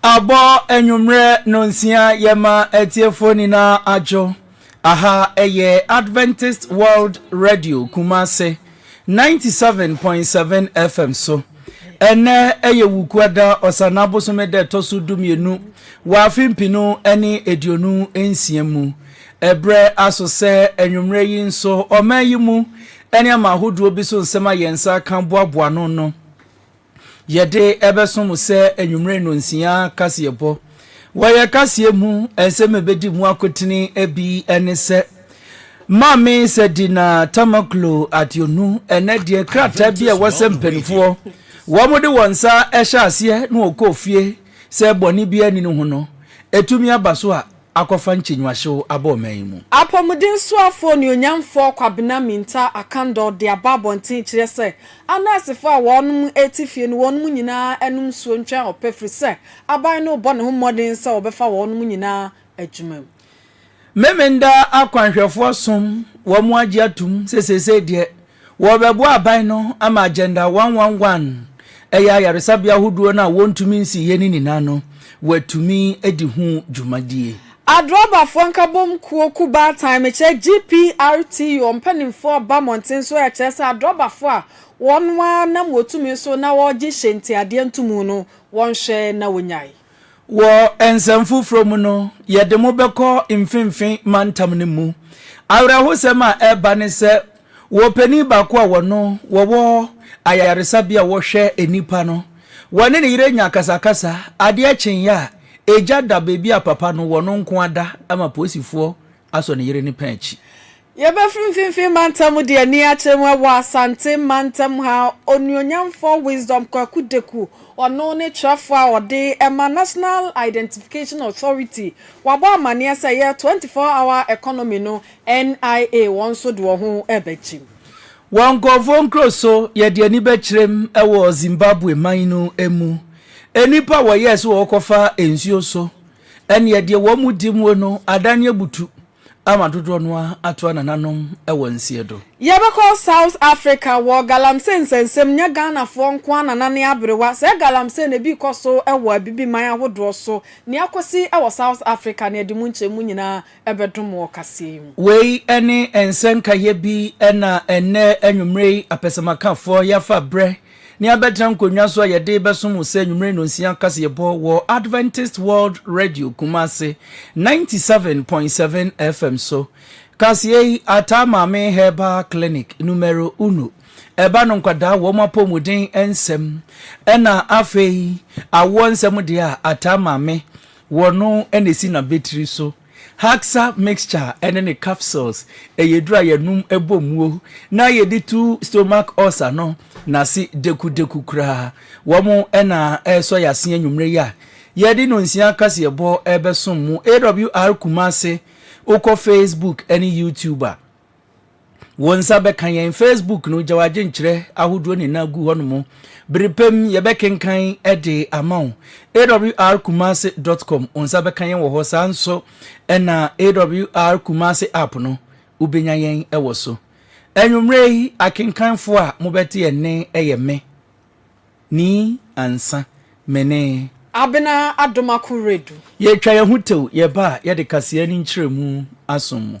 Abɔ anwummerɛ nonsia yɛma atiefoɔ nyinaa adwo. Aha ɛyɛ Adventist World Radio Kumase 97.7 FM so. Ɛnnɛ ɛyɛ Wukuada Ɔsanna bosome da ɛtɔ so dumienu wɔ afe mpenu ne aduonu nsia mu. Ɛberɛ aso sɛ anwummerɛ yi nso ɔman yi mu nneɛma ahodoɔ bi so nsɛm a yɛn nsa ka boaboa ano no, Yɛde ɛbɛso mo sɛ anwummere nnɔnsia kaseɛbɔ. Wɔ yɛn kaseɛ mu, nsɛm a ɛbɛdi mu akotene bi ne sɛ, Maame Sadina Tamaklo Adeonu, ɛnnɛ deɛ krataa bi a ɛwɔ sɛ mpanimfoɔ wɔde wɔn nsa hyɛ aseɛ na wɔkɔ fie sɛ bɔne biara nni ne ho no, ɛtumi aba so a, akɔfa nkyɛnwahyew aba ɔman yi mu. Apɔmudensoafo Onuonyamfo Kwabena Mintah Akandaw de aba abɔnten kyerɛ sɛ anɛɛsefo a wɔnom te fie no wɔnom nyinaa nom nsuo ntwɛn ɔpɛ firi sɛ aban no rebɔ ne ho mmɔden sɛ wɔbɛfa wɔnom nyinaa adwuma mu. Memenda akwanhwɛfoɔ som wɔn agye atom sɛ seesei deɛ Wɔrebɛboa aban no ama Agenda one one one, ɛyɛ ayaresabea ahodoɔ no a wɔntumi nsiiɛ no nyinaa no, wɔatumi adi ho dwumadie. Adrɔbafoɔ Nkabom Kuo Kubaatan, mekyerɛ GPRTO, mpanimfoɔ ba mmɔnten so rekyerɛ sɛ adrɔbafoɔ a wɔn ara nam wɔtumi so na wɔregye hyɛntiadeɛ ntomu no, wɔnhwɛ na wɔnyae. Wɔ nsɛm foforɔ mu no, yɛde mo bɛkɔ mfimfini mantam no mu. Awerɛhosɛm a ɛreba ne sɛ, wɔ panin baako a wɔno wɔwɔ ayaresabea a wɔhwɛ nnipa no, wɔne ne yere nya akasakasa, adeɛ kyeeɛ a, agya da baabi a papa no wɔno nko ara da ma polisifoɔ Asɔ ne yere ne pɛn akyi. Yɛbɛfiri Mfimfini Mantam mu de ani akyerɛ mu wɔ Asante Mantam ha, Onuonyamfoɔ Wisdom Kwaku Deku, ɔno ne twerɛfoɔ a ɔde ma National Identification Authority, wabɔ amaneɛ sɛ ɛyɛ Twenty Four Hour Economy no, NIA, wɔn nso de wɔn ho rebɛkyem. Wɔ nkorɔfoɔ nkuro so, yɛde ani bɛkyerɛm wɔ Zimbabwe man no mu, nnipa a wɔyɛɛ sɛ wɔrekɔfa nsuo so Ɛnneɛ deɛ wɔn mu di muo no adan abutu ama dodoɔ no ara atoa nananom wɔ nseɛ do. Yɛbɛkɔ South Africa wɔ galamsey nsɛnsɛm nyɛ Ghanafoɔ nko ara na nane aberewa, saa galamsey no ebi rekɔ so wɔ abibiman ahodoɔ so, nea akɔsi wɔ South Africa no yɛde mu nkyɛmu nyinaa bɛdom wɔ ɔkaseɛ yi mu. Wei ne nsɛnka yɛ bi na ɛnnɛ anwumerɛ yi apɛsɛmakafoɔ yɛafa berɛ Ne abɛtena nkonnwa so a yɛde bɛsom wo sɛ anwummere nnɔnsia kaseɛbɔ wɔ Adventist World Radio Kumasi 97.7 FM so. Kaseɛ yi, Ataa Maame Herbal Clinic Numero Uno, ɛba no nkwadaa wɔn apɔmuden nsɛm, ɛna afei awoɔ nsɛm deɛ a Ataa Maame wɔno na ɛsi n'abetiri so. Haxa mixture ne ne capsules yɛ aduru a yɛnom bɔ muo na yɛde tu stomach ulcer no n'ase dekudeku koraa. Wɔn na ɛresɔ yɛn ase anwummere yi a yɛde nonsia kaseɛbɔ rebɛsom mo. AWR Kumasi, wokɔ Facebook ne YouTube a. Wo nsa bɛka yɛn Facebook no gyaw adwenkyerɛ ahodoɔ nyinaa gu hɔnom. Bere pa mu yɛbɛkenkan de ama wo. awrkumase.com, wo nsa bɛka yɛn wɔ hɔ. Saa nso na AWR Kumase app no, wobɛnya yɛn wɔ so. Anwummerɛ yi akenkanfoɔ a mobɛte yɛn nne yɛ me, ni ansa, me ne. Abena Adomako Redu. Yɛtwa yɛn ho tew, yɛba a yɛde kaseɛ ne nkyerɛmu asom mo.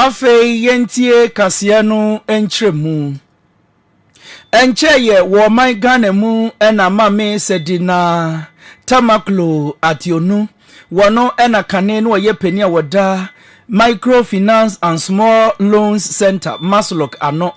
Afei yɛntie kaseɛ no nkyerɛmu. Ɛnkyɛeɛ wɔ ɔman Ghana mu na Mame Sadinah Tamakloe Ateonu Wɔno na kane no ɔyɛ panin a wɔda Microfinance and Small Loans Center, MASLOC, ano.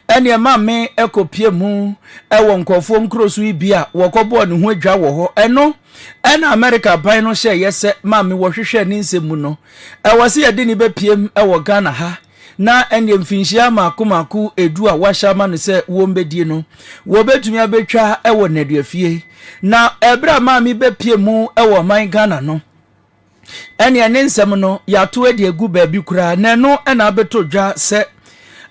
Ɛne ɛma me ɛkɔpie mu ɛwɔ nkurɔfoɔ nkuro so yi bi a wɔkɔbɔɔ ne ho adwa wɔ hɔ. Ɛno ɛna Amerika aban no hyɛeɛ sɛ ma me wɔhwehwɛ ne nsɛm mu no, ɛwɔ sɛ yɛde ne bɛpiem ɛwɔ Ghana ha. na ɛnneɛ mfinhyia mmaako mmaako edu a wɔahyɛ ama no sɛ wɔmbɛdie no, wɔbɛtumi abɛtwa wɔ nnaduafie. Na ɛberɛ a maame bɛpie mu wɔ ɔman Ghana no, ɛnneɛ ne nsɛm no yɛato adi agu baabi koraa, na ɛno na abɛtɔ dwa sɛ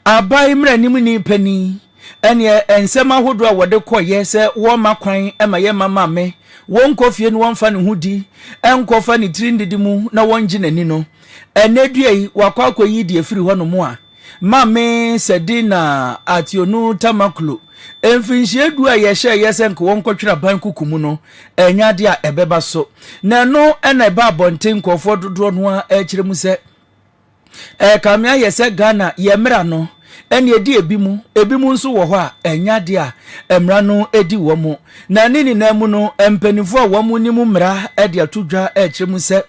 aban mmaranim panin ɛnneɛ nsɛm ahodoɔ a wɔde kɔyɛ sɛ wɔma kwan ma yɛma maame wɔnkɔ fie no wɔmfa ne ho di, ɛnkɔfa ne tiri ndidi mu na wɔngye n'ani no. Ɛnnɛ dua yi, wakɔ akɔyi deɛ firi hɔnom a, Maame Sadina Ationu Tamaklo, mfinhyia du a yɛhyɛɛ yɛ sɛ nka wɔnkɔtwerɛ aban kuku mu no, ɛnyɛ adeɛ a ɛbɛba so. Na ɛno na ɛba abɔnten nkurɔfoɔ dodoɔ no ara kyerɛ mu sɛ ɛrekame ayɛ sɛ Ghana yɛn mmara no, Ɛnna ɛde ebinom, ebinom nso wɔ hɔ a, ɛnyɛ adeɛ a mmara no di wɔn. Na ne nyinaa mu no, mpanimfoɔ a wɔnim mmara de ato dwa rekyerɛ mu sɛ,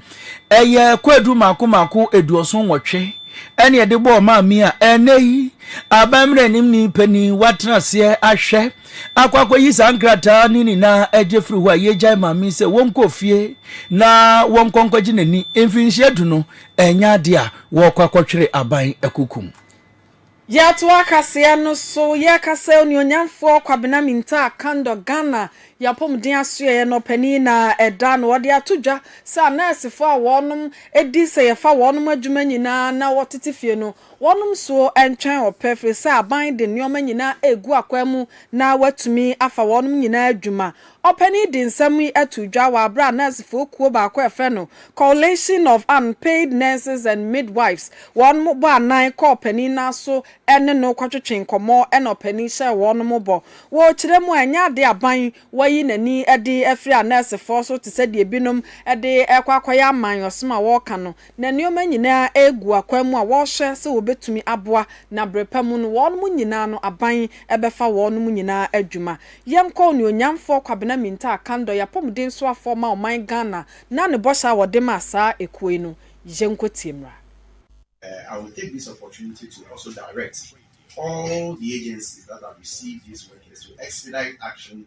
ɛyɛ kwaadu mmaako mmaako aduɔson nwɔtwe ɛnna ɛde bɔɔ maa mi a ɛnnɛ yi aban mmaranimni panin watena aseɛ ahwɛ akɔ akɔyi saa nkrataa ne nyinaa agye firi hɔ a yɛgyae maa mi sɛ wɔnkɔ fie na wɔnkɔ nkɔgye n'ani mfinhyia du no Ɛnyɛ adeɛ a wɔrekɔ akɔtwere aban akukum. Yɛatoa kaseɛ no so yɛreka sɛ Onuonyamfoɔ Kwabena Mintah Kandor Ghana yɛn apɔmuden asoɛeɛ no ɔpanin na ɛda no ɔde ato dwa sɛ anɛɛsefoɔ a wɔnom di sɛ yɛfa wɔnom adwuma nyinaa na wɔtete fie no wɔnom soɔ ntwɛn ɔpɛ firi sɛ aban de nnoɔma nyinaa regu akwan mu na watumi afa wɔnom nyinaa adwuma Ɔpanyin yi de nsɛm yi too dwa wɔ bere a nɛɛsefo kuw baako a wɔfrɛ no Coalition of Unpaid Nurses and Midwives wɔn bɔ anan kɔɔ ɔpanyin no aso ne no kɔtwetwee nkɔmmɔ na ɔpanyin hyɛɛ wɔn bɔ. Wɔ kyerɛ mu a, ɛnyɛ ade a aban wayi n'ani de afiri anɛɛsefo so te sɛ deɛ ebinom de rekɔ akɔyɛ aman ɔsom a wɔreka no Na nneɛma nyinaa regu akwan mu a wɔhwɛ sɛ wɔbɛtumi aboa, na berɛpa mu no wɔnom nyinaa no aban bɛfa wɔnom nyinaa adwuma. Yɛnkɔ Onuonyamfoɔ Kwabena Mintaa Kandor yɛ apɔmuden soafoɔ ma ɔman Ghana na ne bɔhyɛ a wɔde maa saa ekuo yi no yɛnkɔ tie mmra. I will take this opportunity to also direct all the agencies that have received these workers to expedite action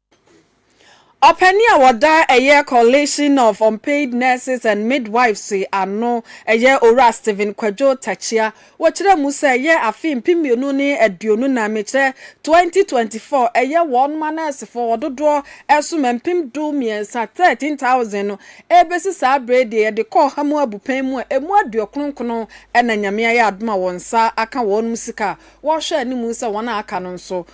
Ɔpanyin a ɔda ɛyɛ Coalition of Unpaid Nurses and Midwives ano, ɛyɛ Owura Stephen Kwadwo Takyia, wɔkyerɛ mu sɛ ɛyɛ afe mpem mmienu ne aduonu nnan, mekyerɛ, 2024, ɛyɛ wɔn ma nɛɛsefo a wɔn dodoɔ ɛsom mpem du mmiɛnsa, 13,000, no ɛrebɛsi saa berɛ yi deɛ yɛde kɔ ɔha mu abu pɛn mu a ɛmu aduokron-nkron na Nyame ayɛ adom a wɔn nsa aka wɔnom sika a wɔrehwɛ anim sɛ wɔn a aka no nso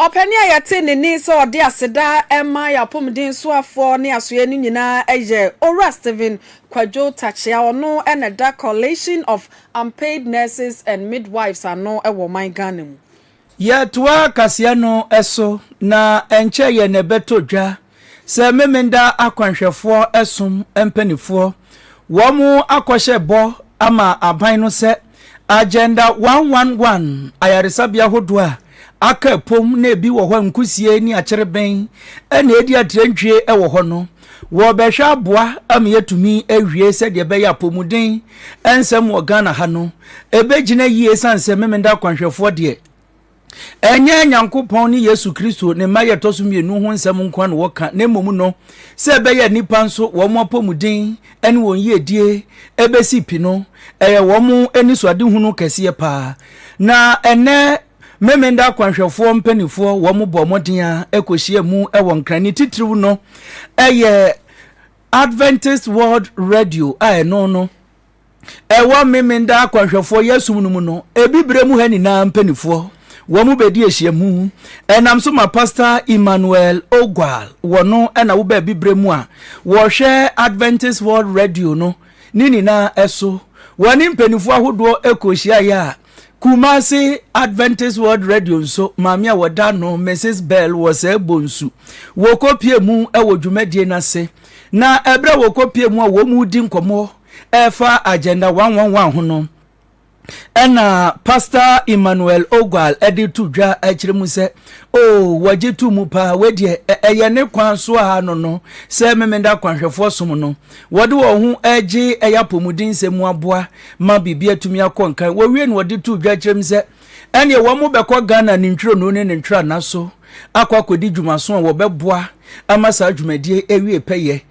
Ɔpanin a yɛte ne nne sɛ ɔde aseda ma yɛn apɔmuden soafoɔ ne asoeɛ no nyinaa yɛ Owura Stephen Kwadwo Takyea, ɔno na ɛda Coalition of Unpaid Nurses and Midwives ano wɔ ɔman Ghana mu. Yɛtoa kaseɛ no so, na ɛnkyɛeɛ na ɛbɛtɔ dwa Sɛ Memenda akwanhwɛfoɔ som mpaninfoɔ, wɔn akɔhyɛ bɔ ama aban no sɛ Agenda one one one ayaresabea hodoɔ a aka apom na ebi wɔ hɔ a nkusie ne akyereben na edi atirantwie wɔ hɔ no, wɔbɛhwɛ aboa ama yɛatumi awie sɛdeɛ ɛbɛyɛ apomuden nsɛm wɔ Ghana ha no ɛbɛgyina yie ɛsiane sɛ Memenda akwanhwɛfoɔ deɛ Ɛnyɛ Nyankopɔn ne Yesu Kristo, ne mma a yɛtɔ so mmienu ho nsɛm nko ara na wɔka, na mmom no, sɛ ɛbɛyɛ a nnipa nso wɔn apɔmuden ne wɔn yiedie bɛsi pi no, ɛyɛ wɔn anisoadehunu kɛseɛ paa. Na ɛnnɛ Memenda akwanhwɛfoɔ mpanimfoɔ wɔn bɔɔ mmɔden a kɔhyia mu wɔ Nkran. Ne titiriw no, ɛyɛ Adventist World Radio a ɛno no, ɛwɔ Memenda akwanhwɛfoɔ yɛsom no mu no, ebi berɛ mu ha nyinaa mpanimfoɔ wɔn bɛdi ahyiamu ɛnam so ma Pastor Emmanuel Ogwal wɔ no ɛna wo baabi berɛ mu a wɔhwɛ Adventist World Radio no ne nyinaa ɛso wɔne mpanimfoɔ ahodoɔ ɛkɔ hyiaeɛ a Kumasi Adventist World Radio nso maame a wɔda no Mrs. Bell wɔ sɛ bonsu wɔkɔpie mu ɛwɔ dwumadie no ase na ɛberɛ wɔkɔpie mu a wɔn mu di nkɔmmɔ Ɛfa Agenda one one one ho no, ɛna Pastor Emmanuel Ogwal de to dwa akyerɛ mu sɛ, o wɔgye to mu paa, wei deɛ ɛyɛ ne kwan so a no no sɛ Memenda kwanhwɛfoɔ som no, wɔde wɔn ho gye ɛyɛ apɔmuden nsɛm mu aboa ma biribi atumi akɔ nkan. Wɔwie no wɔde to dwa kyerɛ mu sɛ, ɛneɛ wɔn bɛkɔ Ghana ne ntwironoo ne ne ntwirana so akɔ akɔdi dwumaso a wɔbɛboa ama saa dwumadie awie pɛyɛ.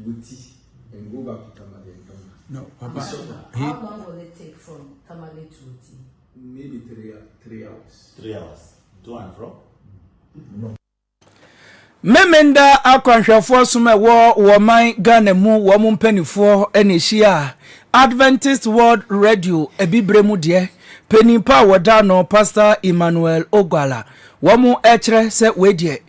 Wati and go back to Tamale and come back. No, Papa. How long will it take from Tamale to Wati? Maybe three, three hours. Three hours. To and fro? No. Memenda akwanhwɛfoɔ som a ɛwɔ wɔn man Ghana mu wɔn mpanimfoɔ na ɛhyia Adventist World Radio abibire mu deɛ panyin pa a wɔda no Pastor Emmanuel Ogwala wɔn ɛkyerɛ sɛ wei deɛ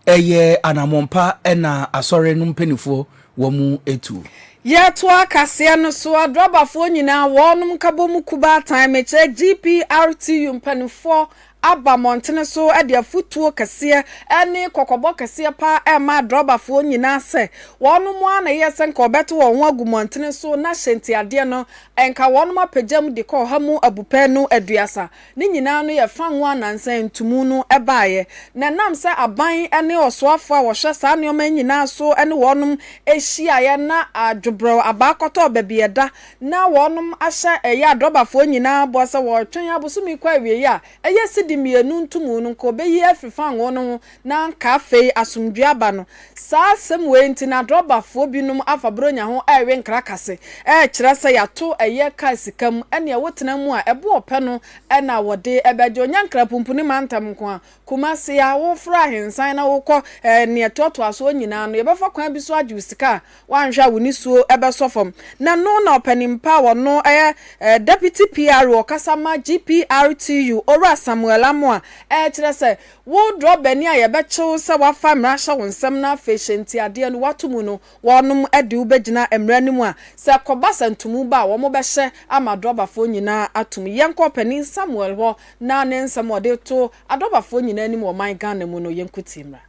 Ɛyɛ anammɔn pa na Asɔre no mpaninfoɔ wɔ mu tuo. Yɛtoa kaseɛ no so, Adrabafoɔ nyinaa, wɔnom nkabɔmu kubaatan, mekyerɛ GPRTU mpaninfoɔ aba mmɔntene so de afotuo kɛseɛ ne kɔkɔbɔ kɛseɛ pa ara rema Adrabafoɔ nyinaa sɛ wɔnom ara na ɛyɛ sɛ nka wɔbɛto wɔn ho agu mmɔntene so na hyɛntiadeɛ no nka wɔnom apagya mu de kɔ ɔha mu abupɛnu aduasa Ne nyinaa no yɛ fanwo a nansa ntumu no baeɛ, na ɛnam sɛ aban ne ɔsoafoɔ a wɔhwɛ saa nneɛma yi nyinaa so ne wɔnom hyiaeɛ na dwobrɛw abaa kɔtɔɔ baabi a ɛda, na wɔnom ahyɛ ɛyɛ adrɔbafoɔ nyinaa bɔ sɛ wɔretwɛn abosome kɔ awieeɛ a ɛyɛ sidi mmienu ntumu no nka wɔbɛyi afiri fanwo no ho Na anka afei asomdwoe aba no. Saa asɛm wei nti na adrɔbafoɔ binom afa Buronya ho rewe nkra kase, rekyerɛ sɛ yɛato ɛyɛ kaa sika mu, ɛnneɛ wotena mu a, ɛbo ɔpɛ no na wɔde bɛgye wo. Nyɛ Nkrapumpuni mantam nko ara, Kumasi a, woforo ahensan na wokɔ nea ɛtoatoa soɔ nyinaa no, yɛbɛfa kwan bi so agye wo sika a, woanhwɛ a wo nisuo bɛsɔ fam. Na no na ɔpanin pa a ɔno yɛ Deputy PRO ɔkasa ma GPRTU, Owura Samuel Amoah, rekyerɛ sɛ, Wo drɔbani a yɛbɛkye wo sɛ woafa mmara ahyɛ wo nsam na afei hyɛ ntiadeɛ no, woato mu no, wɔnom de wo bɛgyina mmara no mu a, sɛ ɛkɔba sɛ ntomu ba a, wɔbɛhyɛ ama adrɔbafoɔ nyinaa ato mu. Yɛn kɔɔ panin Samuel hɔ na ne nsɛm a ɔde to adrɔbafoɔ nyinaa anim wɔ ɔman Ghana mu no, yɛn nkotie mmra.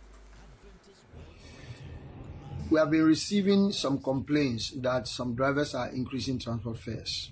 We have been receiving some complaints that some drivers are increasing transport fares.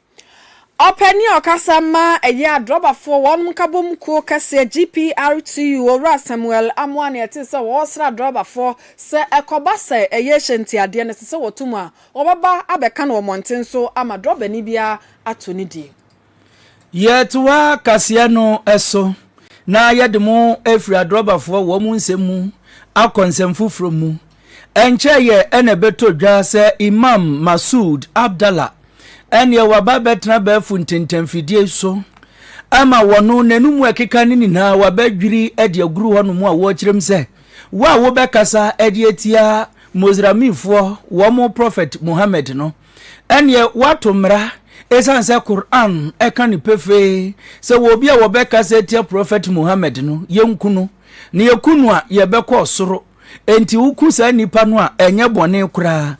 Ɔpɛ ne ɔkasa ma ɛyɛ adrɔbafoɔ wɔn nkabom kuo kɛseɛ GPRTU Owura Samuel Amoah na ɛte sɛ wɔresra adrɔbafoɔ sɛ ɛkɔba sɛ ɛyɛ hyɛntiadeɛ no ɛsɛ sɛ wɔto mu a wɔbɛba abɛka no wɔ mmɔnten so ama drɔbani biara ato ne die. Yɛtoa kaseɛ no so na yɛde mo afiri adrɔbafoɔ wɔn nsɛm mu akɔ nsɛm foforɔ mu Ɛnkyɛeɛ na ɛbɛtɔ dwa sɛ Imam Masood Abdalla ɛneɛ waba abɛtena abɛɛfo ntentanfidie so ama wɔno n'anum a ɛkeka no nyinaa wabɛdwiri de aguru hɔnom a wɔrekyerɛ mu sɛ wo a wobɛkasa de atia Mozramifoɔ wɔn Prɔfɛt Muhammad no ɛneɛ woato mmara ɛsiane sɛ Qur'an ɛka no pefee sɛ wɔ obi a wɔbɛkasa atia Prɔfɛt Muhammad no yɛnku no na yɛku no a yɛbɛkɔ ɔsoro Enti woku saa nnipa no a ɛnyɛ bɔne koraa.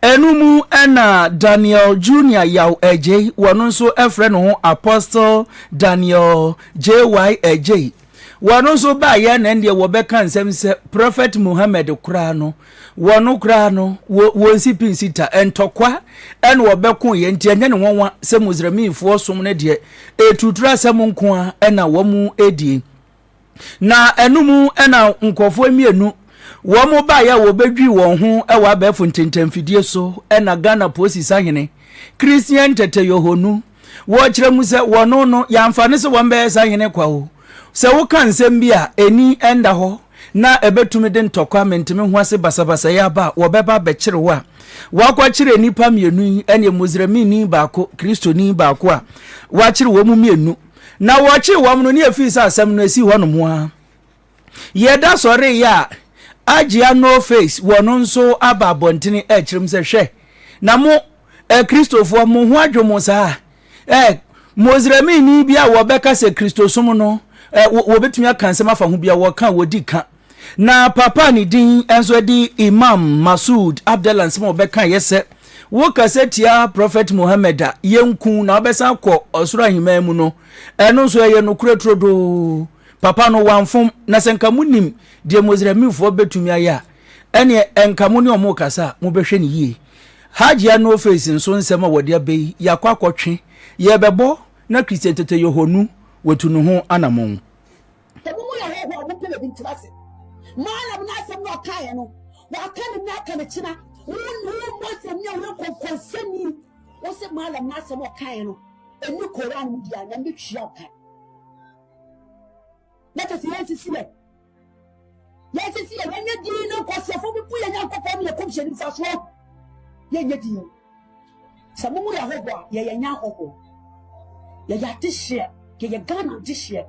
Ɛno mu na Daniel Junior Yaw Adjei, wɔn nso frɛ ne ho Apostle Daniel JY Adjei. Wɔn nso baayɛ na ɛndeɛ wɔbɛka nsɛm sɛ Prophet Muhammad koraa no, wɔn koraa no, wɔn si pin sita, ntɔkwa ɛna wɔbɛko yɛ, nti ɛnyɛ ne nwanwa sɛ Musliminfoɔ som no deɛ, ɛtuturu asɛm nko a ɛna wɔn ɛdie. Na ɛno mu na nkurɔfoɔ mmienu wɔn baeɛ a wɔbɛdwii wɔn ho wɔ abɛɛfo ntentanfidie so na Ghana Posi Sahene Christian Tete Yohonu wɔkyerɛ mu sɛ wɔn no yɛamfa no sɛ wɔn bɛyɛ sahene kwa o sɛ woka nsɛm bi a ɛni ɛnda hɔ na ɛbɛtumi de ntɔkwa mentumi ho ase basabasayɛ aba a wɔbɛba bɛkyere wo a wɔakɔkyere nnipa mmienu yi ɛne muslimini baako kristoni baako a wɔakyere wɔn mu mmienu Na wɔkyee wɔn no ne efii sɛ asɛm no esi hɔnom ho ara. Yɛda sɔre yɛ a, Agyea No Face wɔ no nso aba abɔntene ɛrekyerɛ mu sɛ, Hwɛ, na mo Akristofoɔ, mo ho adwo mo saa? Eh, Moslemini bi a wɔbɛka sɛ Kristosom no, eh, wɔbɛtumi aka nsɛm afa ho bi a wɔka a wɔdi ka. Na papa a ne din nso de Imam Masood Abdallah nsɛm a ɔbɛka yɛ sɛ, Wokasa tia Prɔfɛt Muhammad a, yenku na wobɛsan akɔ ɔsoro ahemman mu no, ɛno nso ɛyɛ nokorɛ turodoo. Papa no, wamfom, na sɛ nka monim deɛ Muslimfoɔ bɛtumi ayɛ a, ɛnneɛ nka mo ne wɔn rekasa a, mobɛhwɛ no yie. Hajia No Face nso nsɛm a wɔde aba yi, yɛakɔ akɔtwe, yɛrebɛbɔ na Christian Tete Yohonu watu ne ho anammɔn. Emu mu yɛ hɔhoɔ a wɔpɛ baabi ntena ase. Maana mu no asɛm na ɔkaeɛ no, wɔaka no nnɛ aka no kyena. Wonni wo mmɔ asɛm ne ɛho nkɔnkɔnsɛmni. Wo se maana mu no asɛm ɔkaeɛ no, ɛni Koran mu deɛ a, Nyame bɛtua wo ka. Na kyɛ sɛ yɛnsisi yɛ. Yɛnsisi yɛ, yɛnyɛ din no nkɔseɛfoɔ bi bu yɛ Nyankopɔn ne yɛ kɔmhyɛni mfasoɔ. Yɛnyɛ din. Sɛ mo mu yɛ hɔhoɔ a, yɛyɛ nyɛ ahɔhoɔ. Yɛyɛ adehyeɛ, yɛyɛ Ghana adehyeɛ.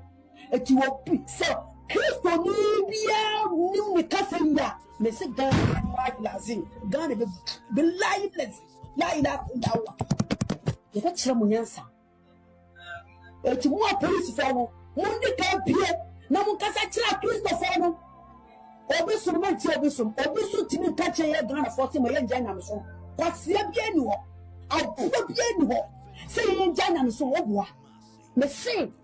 Enti obi sɛ Kristoni biara nim ne kasa yi a, mese Ghana bilahi lazim, Ghana bɛ bilahi lazim, la ilaha illallah. Yɛbɛkyerɛ mo nyansa. Enti mo a polisifoɔ no, monni ka pie na monkasa kyerɛ Akristofoɔ no. Obi som ma ntia obi som. Obi so tumi nka kyerɛ yɛ Ghanafoɔ sɛ ma yɛngya nyamesom. Kwasea biara nni hɔ. Aboa biara nni hɔ sɛ yɛngya nyamesom. Woboa. Mese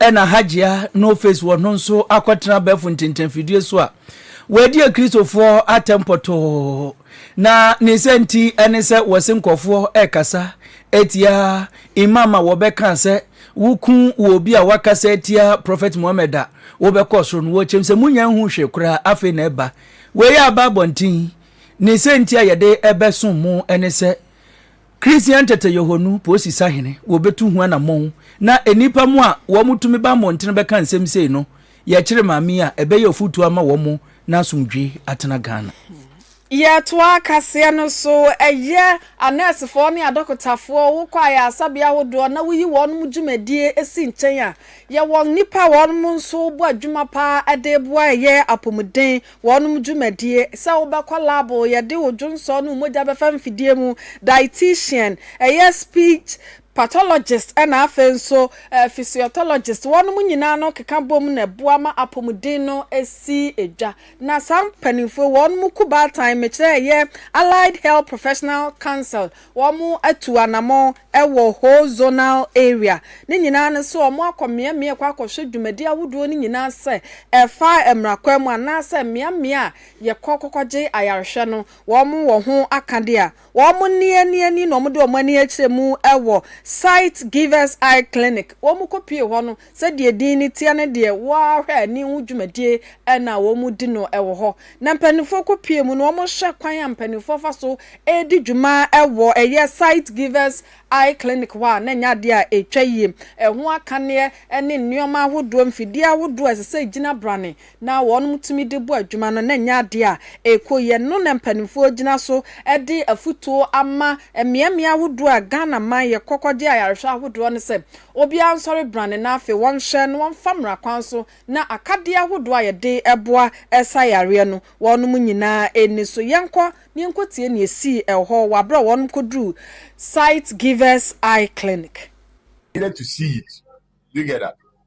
Ɛna Hajia No Face wɔ no nso akɔtena abɛɛfo ntintanfidie so a wɔadi Akristofoɔ atɛm pɔtɔɔ. Na ne sɛ nti ɛne sɛ wɔse nkurɔfoɔ ɛkasa atia Imam a wɔbɛkaa sɛ woku wɔ obi a wakasa atia Prophet Muhammad a wobɛkɔ soro no wɔkyɛm sɛ munya nhu hwee koraa afei na ɛba wei aba abɔnten ne sɛ nti a yɛde ɛbɛsom mo ɛne sɛ Christian tete Yehonu Posi Sahene wɔbetu ho anamɔn na nnipa mo a wɔn tumi ba mmɔntene bɛka nsɛm sei no yɛkyere maame yi a ɛbɛyɛ ɔfotuo ama wɔn mo na asomdwee atena Ghana. Yɛtoa kaseɛ no so, Ɛyɛ anɛɛsefoɔ ne adɔkotafoɔ, wokɔ ayaresabea ahodoɔ na woyi wɔn mo dwumadie si nkyɛn a, yɛwɔ nnipa a wɔn nso bɔ adwuma paa de boa ɛyɛ apɔmuden. Wɔnom dwumadie, sɛ wobɛkɔ lab, yɛde wo dwonsɔ ne wo mogya bɛfa mfidie mu, dietitian, ɛyɛ speech pathologist ɛna afei nso physiotologist, wɔnom nyinaa no keka bom na ɛboa ma apɔmuden no si dwa. Na saa mpaninfoɔ yi wɔnom ku baatan, mekyerɛ ɛyɛ Allied Health Professional Council, wɔn atu anamɔn wɔ whole zonal area no nyinaa no sɛ wɔn akɔ mmeammea kɔ akɔhwɛ dwumadi ahodoɔ no nyinaa sɛ ɛfa mmara kwan mu anaa sɛ mmeammea a yɛkɔ kɔkɔgye ayarehwɛ no wɔn wɔ ho akadeɛ a wɔn nni ani ani na wɔde wɔn ani akyerɛ mu wɔ Sight Givers Eye Clinic wɔn kɔ pie hɔ no Sɛdeɛ din no teɛ no deɛ wo ara hwɛ ani ho dwumadie na wɔdi no wɔ hɔ. Na mpanimfoɔ kɔ pie mu na wɔhwɛ kwan a mpanimfoɔ fa so di dwuma wɔ ɛyɛ Sight Givers Eye Clinic hɔ a na ɛnyɛ adeɛ a ɛtwa yie. Ɛho akaneɛ ne nnoɔma ahodoɔ, mfidie ahodoɔ a ɛsɛ sɛ ɛgyina brane na wɔnom tumi de bɔ adwuma no na ɛnyɛ adeɛ a ɛkɔ yie. Ɛno na mpaninfoɔ gyina so de afutuo ama mmeammea ahodoɔ a Ghana man yɛ kɔkɔ gye ayarehwɛ ahodoɔ no sɛ obiara nsɔre brane na afei wɔnhwɛ na wɔmfa mmara kwan so na akadeɛ ahodoɔ a yɛde boa sa yareɛ no wɔnom nyinaa ɛnni so. Yɛnkɔ na yɛnkɔtie nea ɛsii ɛwɔhɔ wɔ aberɛ a wɔnom kɔduruu Sight Givers Eye Clinic. Needed to see it together.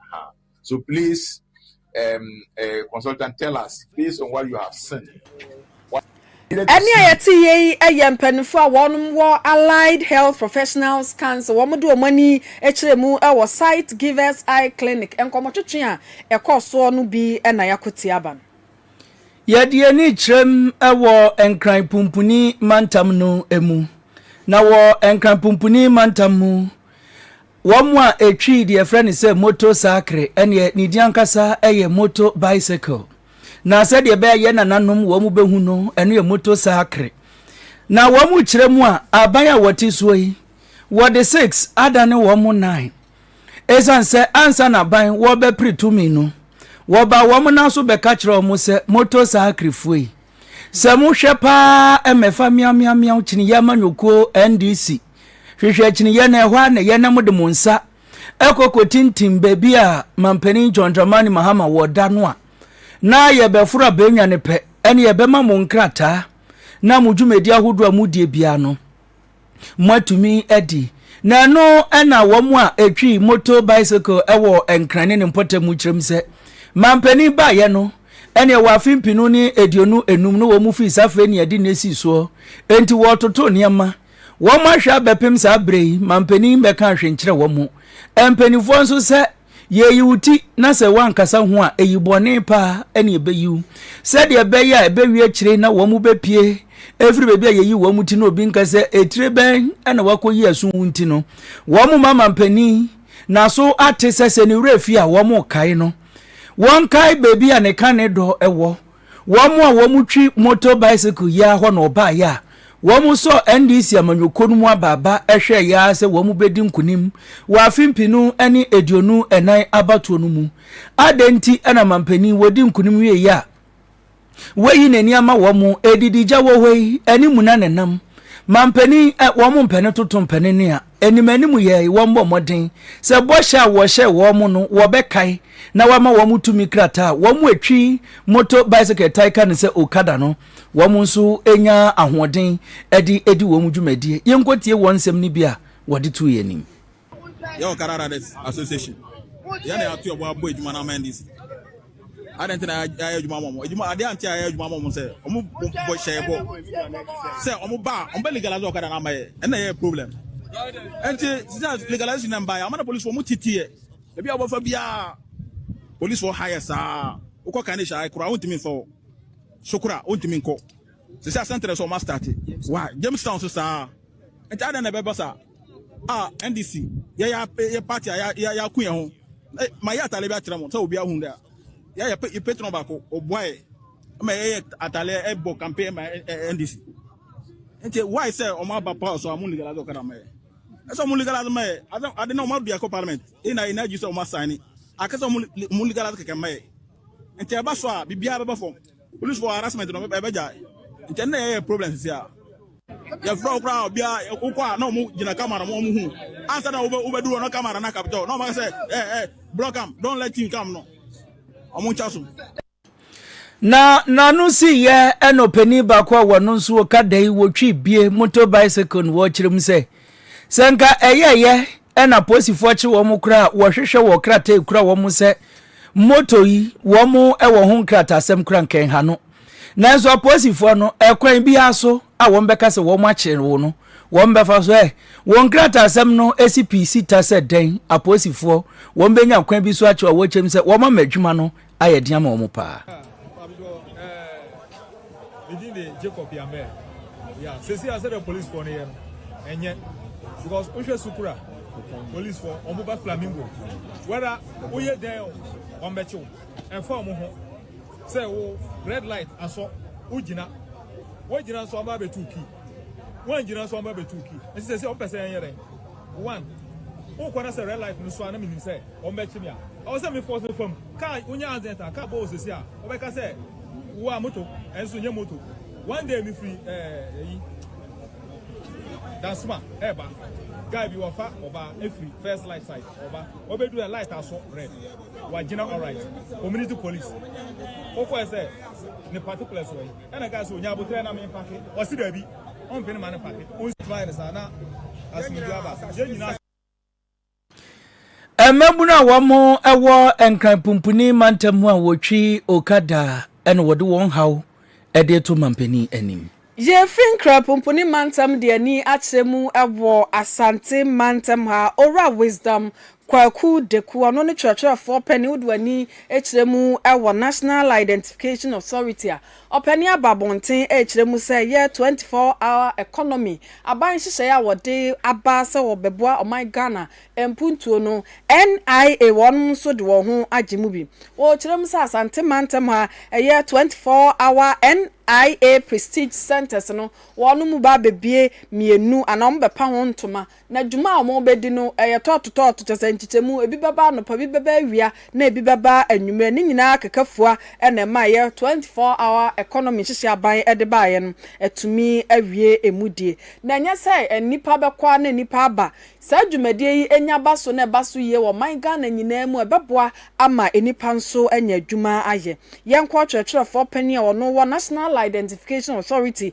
Uh-huh. So please, um, uh, consultant, tell us based on what you have seen. ɛne a yɛte yɛ yi yɛ mpanimfoɔ a wɔnom wɔ allied health professionals council wɔn de wɔn ani kyerɛ mu wɔ site givers eye clinic nkɔmɔtwetwe a ɛkɔɔ soɔ no bi na yɛako te aba no. yɛde ani kyerɛm wɔ nkran pumpuni mantam no mu na wɔ nkran pumpuni mantam mu Wɔn a ɛtwii deɛ yɛfrɛ no sɛ moto sakre, ɛneɛ ne din ankasa yɛ moto bicycle. Na sɛdeɛ ɛbɛyɛ yɛ nananom wɔn bɛhu no, ɛno yɛ moto sakre. Na wɔn kyerɛ mu a, aban a wɔte soɔ yi, wɔde six adane wɔn mo nnan. Ɛsiane sɛ ansa na aban wɔbɛpere tumi no, wɔba wɔn nan so bɛka kyerɛ wɔn sɛ moto sakrefoɔ yi, sɛ mohwɛ paa mmɛfa meaw meaw meaw kyiniiɛ amanyɔkuo NDC. Hwehwɛ akyinneyɛ na ɛhɔ ara na yɛn na mode mo nsa ɛkɔ kɔtintim baabi a mampanin John Dramani Mahama wɔ da no a na yɛbɛforo abɛnwa no pɛ ɛne yɛbɛma mo nkrataa na mo dwumadi ahodoɔ a modie biara no moatumi adi na ɛno ɛna wɔn a ɛtwi moto bicycle ɛwɔ nkran ne ne mpɔtam mu kyerɛm sɛ mampanin baayɛ no ɛne ɛwɔ afe mpinu ne aduonu enum no wɔn mu fii saa afei ne yɛde ne si soɔ enti wɔtoto nneɛma Wɔn ahwɛ abɛpem saa berɛ yi ma mpanin bɛka ahwe nkyerɛ wɔn. Mpanimfoɔ nso sɛ yɛyi wo ti na sɛ woankasa ho a ɛyi bɔne paa ɛne ɛbɛyi wo. Sɛdeɛ ɛbɛyɛ a ɛbɛwie akyire na wɔn bɛpie ɛfiri baabi a yɛyi wɔn ti no obi nka sɛ ɛtire bɛn ɛna wakɔyi aso wo nti no wɔn ma ma mpanin naso ate sɛ sɛ ne werɛ fi a wɔn kae no wɔn kae baabi a ne ka ne dɔ ɛwɔ wɔn a wɔtwi motor bicycle yi ara hɔ na wɔbaeɛ a wɔsɔɔ NDC amanyɔkuo no mu abaaba hwɛeɛ ara sɛ wɔbɛdi nkonim wɔ afe mpenu ne aduonu nnan abatoɔ no mu. Adɛn nti na mampanin wɔdi nkonim wieeɛ a wayi n'ani ama wɔn adididya wɔ hɔ yi ne muna na ɛnam? Mampanin wɔn mpɛne toto mpɛne nea. anim anim yɛ wɔmmɔ mmɔden sɛ bɔhyɛ a wɔhyɛɛ wɔn no wɔbɛkae na wɔama wɔn tumi krataa a wɔatwi moto bicycle tae ka no sɛ okada no wɔn nso nya ahoɔden de adi wɔn dwumadie yɛnkɔtie wɔn nsɛm no bi a wɔde to yɛn anim yɛ Okada Riders Association yɛne ato yɛbɔ abɔ adwuma no ama NDC Adɛn nti na yɛayɛ adwuma ama wɔn? Adwuma adeɛ ante a yɛayɛ adwuma ama wɔn sɛ wɔn bɔ hyɛɛ bɔ sɛ wɔn ba wɔn bɛ legalize ɔkada na ama yɛ ɛna yɛ problem. Ɛnti sisan legalization na mba yɛ ama na polisi wɔn titi yɛ ebi a wɔbɛfa biara polisi wɔ ha yɛ saa wokɔ kan ne hyɛ ayɛ kora wɔntumi nfa wɔ so kora wɔntumi nkɔ sisan sɛntɛrɛ sɛ wɔn asitati wa Jamestown so saa ɛnti adɛn na ɛbɛba saa. a ndc yɛyɛ apɛ yɛ party a yɛ yɛ yɛ ako yɛn ho na ma yɛ atale bi akyerɛ mo sɛ obi ahu dɛ a yɛ yɛ pɛ yɛ pɛ tɔn baako ɔboa yɛ ma yɛ yɛ atale ɛbɔ campaign ma ɛ- ɛ- ndc nti why sɛ ɔmo aba power so a ɔmo legalize ɔkada ma yɛ ɛsɛ ɔmo legalize ma yɛ ade ade na ɔmo adu ɛkɔ parliament ɛyɛ na yɛ na agyi sɛ ɔmo asan ni akɛsɛ ɔmo le- ɔmo legalize kɛkɛ ma yɛ nti ɛba so a biribiara bɛba fam. Polisifo harassment no ɛbɛgyae. Nkyɛ na yɛyɛ problem sisi a. Yɛfrɛ wo koraa obia wokɔ a na ɔmo gyina camera mo ɔmo hu. Ansa na wobɛduru ɔno camera na capture wo na ɔmo aka sɛ eh eh block am don't let him come no. Ɔmo nkya so. Na n'ano si yɛ ɛna ɔpanin baako a wɔno nso ɔka da yi wɔtwi bie motor bicycle no wɔkyerɛ mu sɛ Sɛ nka ɛyɛyɛ na polisifoɔ kye wɔn koraa a, wɔhwehwɛ wɔ krataa ekura wɔn sɛ moto yi wɔn wɔ ho nkratasɛm kora nkɛnha no. Nanso apolisifoɔ no ɛkwan biara so a wɔn bɛka sɛ wɔn akyere wo no wɔn bɛfa so ɛ wɔn nkratasɛm no esi pii sita sɛ dɛn apolisifoɔ wɔn bɛnya kwan bi so akyerɛ a wɔkyɛm sɛ wɔn ama adwuma no ayɛ den ama wɔn paa. Me din de Jacob Yambɛ. Yeah, sisi a sɛdeɛ polisifoɔ no yɛ no, ɛnyɛ because wohwɛ sukura polisifoɔ wɔn ba flamingo whether woyɛ dɛn o wɔn bɛkyew ɛnfa wɔn ho sɛ wo red light asɔ wogyina wogyina nso wɔn abɛtu pii. wɔangyina so ɔma bɛtu ki nti sɛ sɛ ɔmpɛ sɛ ɛnyɛ dɛn one wokɔ na sɛ red light no so a na menim sɛ ɔmbɛkye me a ɔwɔ sɛ mefɔ sɛ fam kaa wonya accident a kaa bɔɔ sɛsi a ɔbɛka sɛ wo a moto ɛnso nyɛ moto one day mefiri ɛyi dansoma ɛba guy bi wɔfa ɔba ɛfiri first light side ɔba ɔbɛdu ɛ light aso red wagyina alright community police wokɔɛ sɛ ne particulars wɔ yi Ɛna kaa sɛ onya aboterɛ na me mpake. Ɔse dabi ɔmpene ma no pake. Ɔnsi mayɛ no saa na asomdwie aba. Yɛn nyinaa. Mmabunu a wɔwɔ Nkran Pumpuni mantam mu a wɔtwi okada na wɔde wɔn haw de reto manpanin anim. Yɛfiri Nkran Pumpuni mantam de ani akyerɛ mu wɔ Asante mantam ha. Owura Wisdom Kwaku Deku, ɔno ne kyerɛkyerɛfoɔ panin wode w'ani kyerɛ mu wɔ National Identification Authority a ɔpɛne aba abɔnten rekyerɛ mu sɛ ɛyɛ 24 hour economy aban nhyehyɛeɛ a wɔde aba sɛ wɔbɛboa ɔman Ghana mpuntuo no, NIA wɔnom nso de wɔn ho agye mu bi. Wɔkyerɛ mu sɛ Asante mantam ha ɛyɛ 24 hour NIA Prestige Centres no wɔnom ba abɛbue mmienu anaa wɔbɛpa ho ntoma Na dwuma a wɔbɛdi no yɛ tɔɔto tɔɔto, kyerɛ sɛ, nkyekyɛmu, ebi bɛba anɔpa, ebi bɛba awia, na ebi bɛba anwummerɛ. Ne nyinaa akeka fua na ɛmaeɛ. Twenty four hour economy nhyehyɛe aban de baeɛ no, atumi awie ɛmu die. Na ɛnyɛ sɛ nnipa bɛkɔ ara na nnipa aba. Saa dwumadie yi nya ba so na ɛba so yie wɔ ɔman Ghana nyinaa mu a, ɛbɛboa ama nnipa nso anya adwuma ayɛ. Yɛnkɔ ɔtwerɛtwerɛfoɔ panin a ɔno wɔ National Identification Authority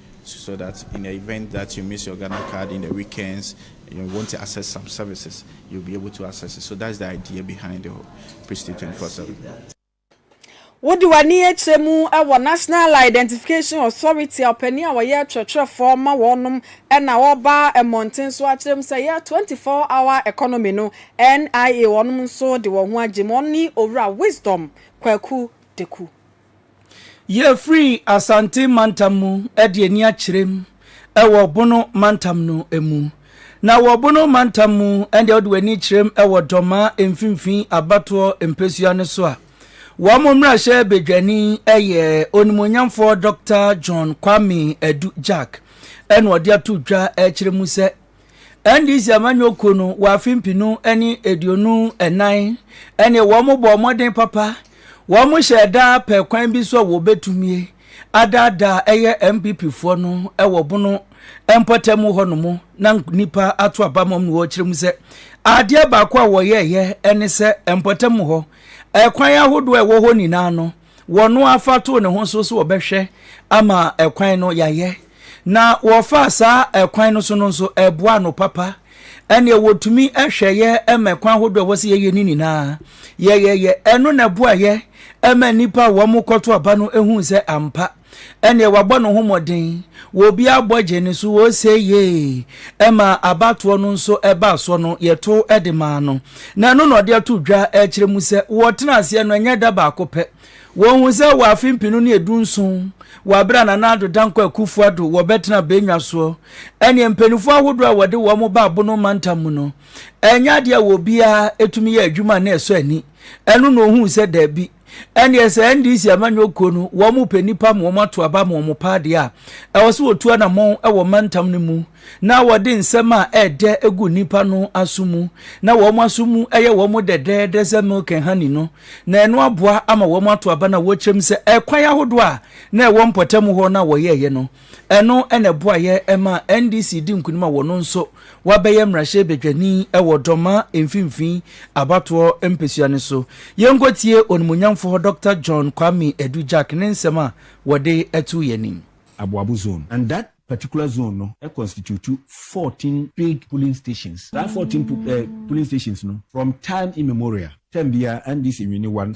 so so that in the event that you miss your Ghana card in the weekends and you want to access some services, you'll be able to access it. So that's the idea behind the Prestige 24 7. wode w'ani akyerɛ mu wɔ national identification authority a ɔpanin a wɔyɛ kyerɛkyerɛfoɔ ma wɔnom na wɔba mmɔnten so akyerɛ mu sɛ yɛ 24 hour economy no nia wɔnom nso de wɔn ho agye mu ɔne owura wisdom kwaku deku Yɛfiri Asante mantam mu de ani akyerɛm wɔ Bono mantam no mu. Na wɔ Bono mantam mu ɛndeɛ wode w'ani kyerɛm wɔ Dɔmaa mfimfini abatoɔ mpɛsua no so a, wɔn mmarahyɛ badwani yɛ Onimuonyamfoɔ Dɔkta John Kwame Adu Gyark ɛna ɔde ato dwa ɛkyerɛ mu sɛ, NDC amanyɔkuo no wɔ afe mpenu ne aduonu nnan ne wɔn bɔɔ mmɔden papa wɔn hyɛɛ da pɛ kwan bi so a wɔbɛtumie adaadaa ɛyɛ MPP foɔ no wɔ bono mpɔtam hɔ no mu na nipa ato aba mɔm no wɔkyerɛ mu sɛ adeɛ baako a wɔyɛɛyɛ ne sɛ mpɔtam hɔ ɛkwan ahodoɔ a ɛwɔ hɔ nyinaa no wɔn ara fa too ne ho so sɛ wɔbɛhwɛ ama ɛkwan no yɛayɛ. Na wɔfaa saa ɛkwan no so no nso, ɛboa no papa. Ɛnneɛ wɔtumi hwɛ yɛ ma ɛkwan ahodoɔ a ɛwɔ sɛ yɛyɛ no nyinaa. Yɛyɛyɛ. Ɛno na ɛboa yɛ ma nnipa a wɔkɔto aba no hui sɛ ampa, ɛnneɛ wabɔ ne ho mmɔden, wɔ obiara bɔ gye ne so, ose yee, ɛma abatoɔ no nso ɛbaa soɔ no, yɛto de maa no. Na ɛno na ɔde ato dwa kyerɛ mu sɛ, wɔtena aseɛ no, ɛnyɛ da baako pɛ. Wɔhu sɛ wɔ afe mpenu ne edu nson, wɔ abere a Nana Addo Dankwa Akufo Addo wɔbɛtena Benua soɔ, ɛnneɛ mpaninfoɔ ahodoɔ a wɔde wɔn baa Bono mantam mu no, ɛnyɛ adeɛ a obiara tumi yɛ adwuma a na ɛsɔ ani. Ɛno na ɔhuu sɛ daabi. ɛnneɛ sɛ ndc amanyɔ kuo no wɔn mo pɛ nipa ma wɔn ato aba ma wɔn pɛ adeɛ a ɛwɔ so wɔtu anamɔn wɔ mantam no mu na wɔde nsɛm a ɛɛdɛ egu nipa no aso mu na wɔn aso mu ɛyɛ wɔn mo dɛdɛɛdɛ sɛ milk and honey no na ɛno aboa ama wɔn ato aba na wɔkyerɛm sɛ ɛkwan ahodoɔ a na ɛwɔ mpɔtam hɔ na wɔyɛɛyɛ no Ɛno na ɛboaeɛ maa NDC dii nkunim a wɔn nso wɔabɛyɛ mmarahyɛbadwani wɔ Dɔma mfimfini abatoɔ mpesua no so. Yɛnkɔtie onimuonyamfoɔ Dɔkta John Kwame Adu Gyark ne nsɛm a wɔde too yɛn anim. Aboabo zone and that particular zone no constitute fourteen paid polling stations. Saa fourteen polling stations no from time immemorial term biara NDC wini one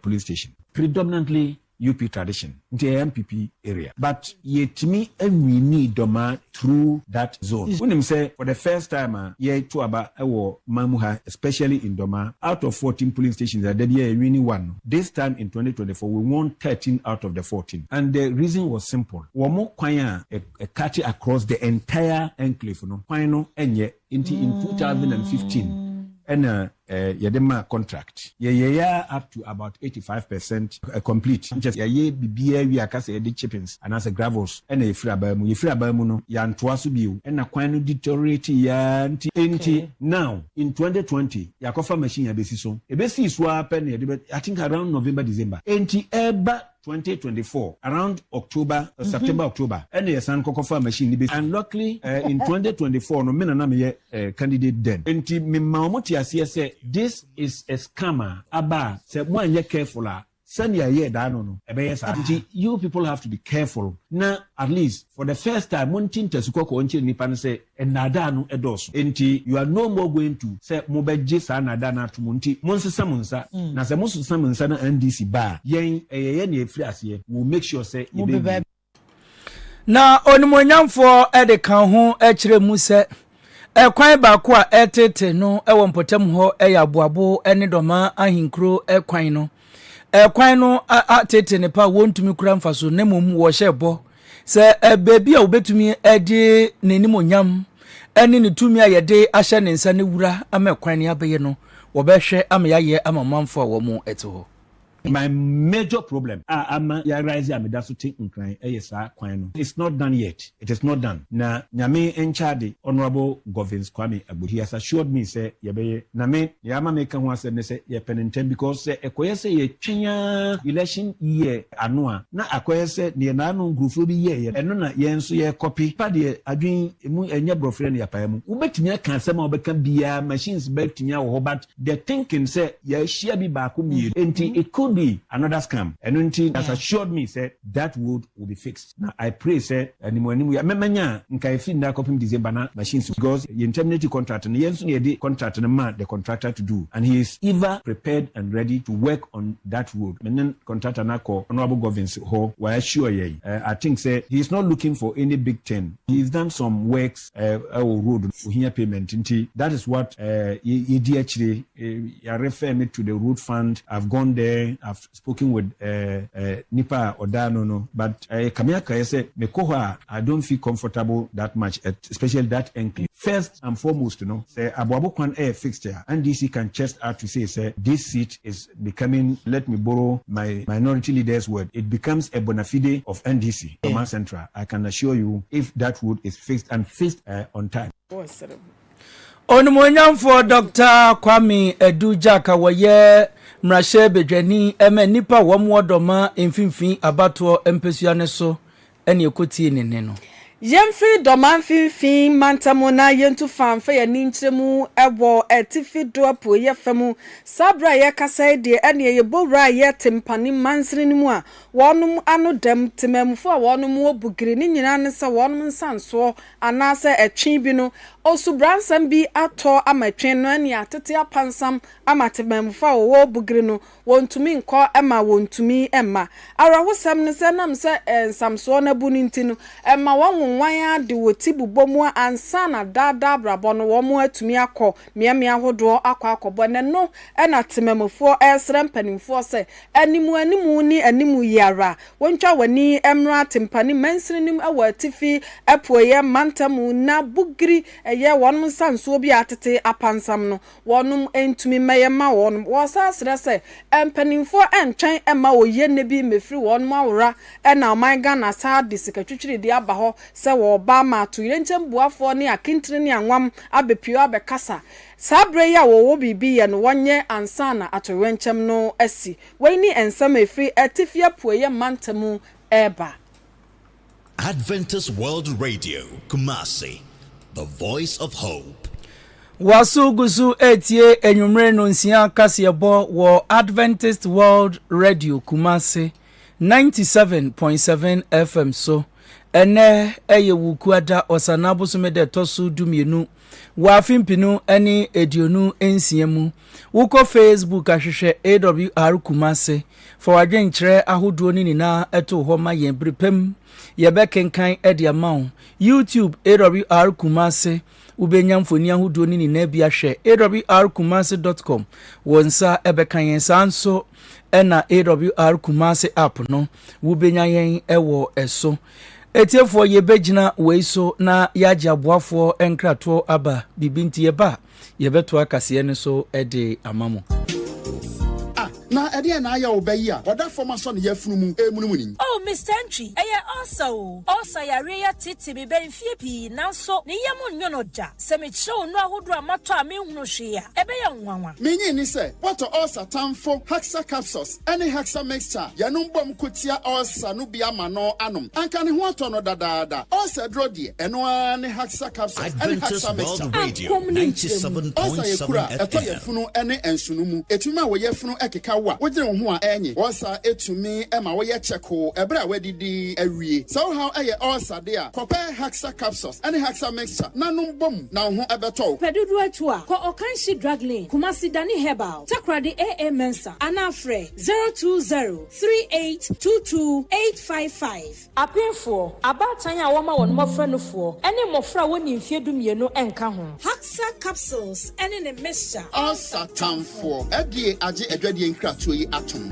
polling station. Predominantly UP tradition nti ɛyɛ MPP area but yɛtumi winii Dɔmaa through that zone. Wonim sɛ for the first time a yɛto aba wɔ man mu ha especially in Dɔmaa out of fourteen polling stations a da biara yɛwini one no this time in twenty twenty four we won thirteen out of the fourteen and the reason was simple wɔn kwan a ɛkate across the entire enclave no kwan no nyɛ Nti in two thousand and fifteen ɛna eh, yɛde ma contract yɛyɛyɛ up to about eighty five percent eh, complete nkyɛ yɛyɛ biribiara wie aka sɛ yɛde chippings anaasɛ gravels ɛna yɛfiri abaa mu yɛfiri abaa mu no yɛantoa so bio ɛna kwan no deteriorate yɛa nti nti now in 2020 yɛakɔfa machine abɛsi so ɛbɛsii so ara pɛ na yɛde bɛ i think around november december nti ɛba twenty twenty four around October or September October ɛna yɛsan kɔkɔfaa machine no bi and luckily eh, in twenty twenty four no me na na meyɛ eh, candidate then nti mema wɔn te aseɛ sɛ this is a scam a aba a sɛ mo anyɛ careful a sɛnea ɛyɛ daa no no ɛbɛyɛ saa nti you people have to be careful na at least for the first time monte ntasu kɔkɔɔ nkyerɛ nnipa no sɛ Nnaadaa no dɔɔso. Enti you are no more going to sɛ mobɛgye saa nnaadaa no atom nti monsesa mo nsa. Na sɛ mosesa mo nsa na NDC ba a, yɛn ɛyɛ yɛn nea ɛfiri aseɛ, we will make sure sɛ yɛbɛwie. Na onimuonyamfoɔ de ka ho kyerɛɛ mu sɛ, Kwan baako a ɛreteetee no wɔ mpɔtam hɔ yɛ aboabo ne dɔma ahenkuro kwan no. Kwan no ateetee nnepa a wɔntumi kura mfaso na mmom wɔhyɛ bɔ Sɛ baabi a wobetumi de n'animuonyam ne ne tumi a yɛde ahyɛ ne nsa no wura ama ɛkwan ne abɛyɛ no, wɔbɛhwɛ ama yɛayɛ ama ɔmanfo a wɔte hɔ. My major problem a ama yɛ arise a meda so te nkran yɛ saa kwan no. It's not done yet. It is not done. Na Nyame nkyɛ ade, Honourable Govins Kwame Agbo, he has assured me sɛ yɛbɛyɛ. Na me, nea ama meka ho asɛm ne sɛ yɛpɛ no ntɛm because sɛ ɛkɔyɛ sɛ yɛtwɛn ara election year, ano a, na akɔyɛ sɛ deɛ n'ano nkurofoɔ bi yɛeɛ no, ɛno na yɛn nso yɛrekɔpe pa deɛ adwene mu nyɛ borɔferɛ no yɛapae mu. Wobɛtumi aka asɛm a wobɛka biara, machines bɛtumi awɔ hɔ but the thinking sɛ yɛahyia bi baako mmienu nti it could be another scam. Ɛno nti he has assured me sɛ that road will be fixed. Na I pray sɛ anim anim yi mɛ mɛnya nka ɛfiri nnɛ akɔpem December na machine si hɔ because yɛn terminate contract no yɛn nso na yɛde contract no maa the contractor to do and he is ever prepared and ready to work on that road me ne contractor no akɔ Honourable Govins hɔ wa assure yɛn eh, I think sɛ he is not looking for any big thing he is done some works eh, ɛwɔ road no ohia payment nti that is what eh, yɛ yɛdi akyire eh, yɛarefɛ me to the road fund I've gone there I've spoken with nipa a ɔdaa no no but ɛyɛ kame akraeɛ sɛ me kɔ hɔ a I don't feel comfortable that much at especially that enclave. First and foremost no sɛ aboabo kwan ɛyɛ fixed a NDC can chest out to say sɛ this seat is becoming let me borrow my minority leader's word it becomes a bonafide of NDC Dormaa Central I can assure you if that road is fixed and fixed on time. Onimuonyamfoɔ Dɔkta Kwame Adu Gyark a wɔyɛ mmarahyɛ badwani ma nnipa a wɔn wɔ Dɔma mfimfini abatoɔ mpasua no so ne ɛkɔtie ne nne no. Yɛmfiri Dɔma mfimfini mantam na yɛntu fa mfa yɛn ani nkyerɛ mu wɔ atifi do apueeɛ fa mu. Saa berɛ a yɛrekasa yi deɛ ɛnneɛ yɛbɔ wura a yɛ te mpanin mansini no mu a wɔnom ano dam, temammufoɔ a wɔnom wɔ Bugiri, ne nyinaa ne sɛ wɔnom nsansoɔ Anaasɛ ɛtwe bi no, osubransɛm bi atɔ ama ɛtwe no ani a, tete apansam ama temammufo a wɔwɔ Bugiri no, wɔntumi nkɔ ɛma wɔntumi mma. Awerɛhosɛm ne sɛ ɛnam sɛ nsamsoɔ no abu no nti no, ɛma wɔnwonwan ara de wɔ ti bobɔ mu a ansa na daa daa abrabɔ no wɔn atumi akɔ mmeammea ahodoɔ akɔ akɔbɔ. Ɛnɛ no na temammufoɔ ɛresrɛ mpanimfoɔ sɛ Anim anim ne anim yi ara. Wontwa w'ani mmra Atempa ne mansini no mu wɔ atifi apueɛ mantam mu na Bugiri yɛ wɔnom nsa nsuo bi a atete apansam no. Wɔnom ntumi mmɛyɛ mma wɔnom. Wɔsan srɛ sɛ mpaninfoɔ ntwɛn mma oyie nnɛ bi mmɛfiri wɔnom awora na ɔman Ghana saa de sika twitwiridie aba hɔ sɛ wɔreba ama atoyerɛnkyɛm buafoɔ ne akintire ne anwam abɛpue abɛkasa Saa berɛ yi a wɔwɔ biribi yɛ no wɔnyɛ ansa na atoyerɛnkyɛm no asi. Wei ne nsɛm a ɛfiri Atifi Apueeɛ Mantam mu reba. Adventist World Radio, Kumasi, the voice of hope. Wɔaso gu so retie anwummere nonsia kaseɛbɔ wɔ Adventist World Radio, Kumasi, ninety seven point seven FM so. Ɛnnɛ yɛ Wukuada, Ɔsanaa bosome da ɛtɔ so dumienu. Wɔ afe mpenu ne aduonu nsia mu, wokɔ Facebook a hwehwɛ AWR Kumasi. Fa w'adwenkyerɛ ahodoɔ no nyinaa to hɔ ma yɛn bere pa mu. Yɛbɛkenkan de ama wo. YouTube AWR Kumasi Wobɛnya mfoni ahodoɔ no nyinaa bi ahwɛ. AWRKumasi dot com Wo nsa bɛka yɛn. Saa nso na AWR Kumasi app no, wobɛnya yɛn wɔ so. Atiefoɔ yɛbɛgyina wei so na yɛagye aboafoɔ nkratoɔ aba biribi nti yɛba a yɛbɛtoa kaseɛ no so de ama mo. Ah na ɛdeɛn na ayɛ wo ba yi a ɔda fam asɔ ne yafunu mu remunimuni? Oh Mister Antwi, ɛyɛ ulcer o. Ulcer yareɛ yi atete me bɛyɛ mfeɛ pii nanso ne yam nnwo no da. Sɛ mekyerɛ wo nnuro ahodoɔ a matɔ a menhunu hwee a, ɛbɛyɛ wo nwanwa. Menyee ne sɛ bɔtɔ ulcer tamfo Haxa Capsules ɛne Hexa Mixture yɛnom bɔm ko tia ulcer no bi ama no anom. Anka ne ho atɔ no dadaada. Ulcer duro deɛ, ɛno ara ne Hexa Capsules ɛne Hexa Mixture. Apɔm ne nkyerɛmu. Ulcer yɛ kuru a ɛtɔ yafunu ne nsono mu. Ɛtumi ma wo yafunu keka wo a, wodwene wo ho a ɛnye. Ulcer tumi ma woyɛ kyɛkoo ɛberɛ a woadidi awie. Sɛ wo haw yɛ ulcer deɛ a, kɔpɛ Hexa Capsules ɛne Hexa Mixture na nom bɔm na wo ho bɛtɔ wo. Pɛ dodoɔ atu a, kɔ Ɔkanhye Drug Lane, Kumasi Dani Herbal, Takoradi AA Mensah. anaa frɛ zero two zero three eight two two eight five five. Abenfoɔ, abaatan a wɔma wɔn mmɔfra nufoɔ, ne mmɔfra a wɔnni mfeɛ dumienu nka ho. Haxa capsules ne ne mixture. Ansa tanfoɔ, FDA agye adwadie nkratoɔ yi atom.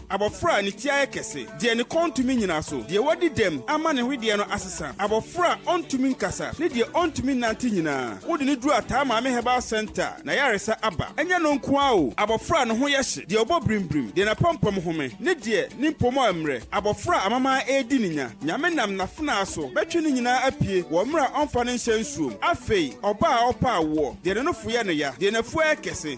Abɔfra a ne ti ayɛ kɛse, deɛ ne kɔn ntumi nnyina so, deɛ wadi dɛm ama ne hwedeɛ no asesa, abɔfra a ɔntumi nkasa, ne deɛ ɔntumi nnante nyinaa, wode no duru Ataa Maame Herbal Centre, n'ayaresa aba. Ɛnyɛ no nko ara o, abɔfra a ne ho yɛ hye, deɛ ɔbɔ birimbirim, deɛ n'apampam home, ne deɛ ne mpomma remmrɛ, abɔfra a amamaa redi no nya, Nyame nam n'afenaa so bɛtwe ne nyinaa apue wɔ mmerɛ a ɔmfa no nhyɛ nsuom. Afei, ɔbaa a ɔrepɛ awoɔ, deɛ ne nofo yɛ no ya, deɛ n'afuo ayɛ kɛse,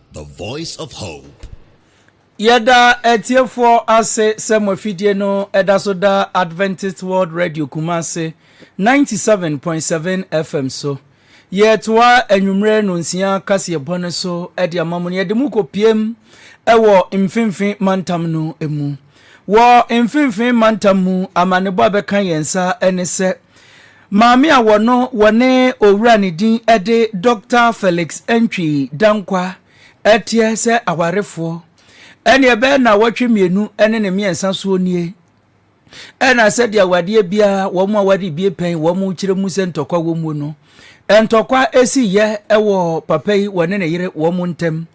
The Voice of Hope. Yɛda atiefoɔ ase sɛ mo afidie no ɛda so da Adventist World Radio Kumase 97.7 FM so. Yɛtoa anwummere nonsia kaseɛbɔ no so de ama mo no yɛde mo kɔpiem wɔ mfimfini mantam no mu. Wɔ mfimfini mantam mu amanebɔ a bɛka yɛn nsa ne sɛ Maame a wɔno wɔne owura ne din de Doctor Felix Antwi Dankwa teɛ sɛ awarefoɔ ɛne ɛbɛyɛ nnawɔtwe mmienu ne ne mmiɛnsa soɔ nie ɛna sɛdeɛ awadeɛ biara wɔn a wɔde bie pɛn wɔn kyerɛ mu sɛ ntɔkwa wɔ mu no ntɔkwa esi yɛ ɛwɔ papa yi wɔne ne yere wɔn ntɛm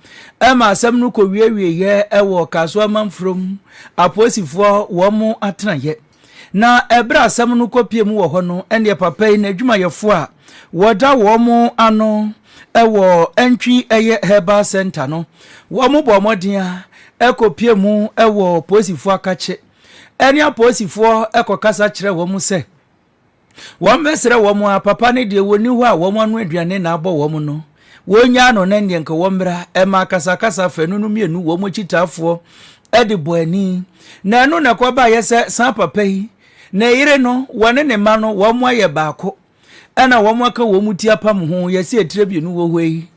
ɛma asɛm no kɔ wiewie yɛ ɛwɔ Kasoa Manfurom apolisifoɔ wɔn atenayɛ. Na ɛberɛ a asɛm no kɔpie mu wɔ hɔ no, ɛnneɛ papa yi n'adwumayɛfoɔ a wɔda wɔn ano wɔ Antwi ɛyɛ Herbal Centre no, wɔn bɔ mmɔden a ɛkɔpie mu wɔ apolisifoɔ akakye ɛne apolisifoɔ kɔkasa kyerɛ wɔn sɛ, Wɔmmɛsrɛ wɔn a, papa ne deɛ wɔnni hɔ a wɔn ano aduane na abɔ wɔn no, wɔnnyaa no na nneɛ nka wɔmmra, ɛma akasakasa fanu no mmienu wɔn akyitaafoɔ de bɔ ani. Na ɛno na ɛkɔbaeɛ sɛ saa papa yi, ne yere no, wɔne ne mma no, wɔn ayɛ baako, ɛna wɔn aka wɔn ti apam ho, yɛse atire mmienu wɔ hɔ yi,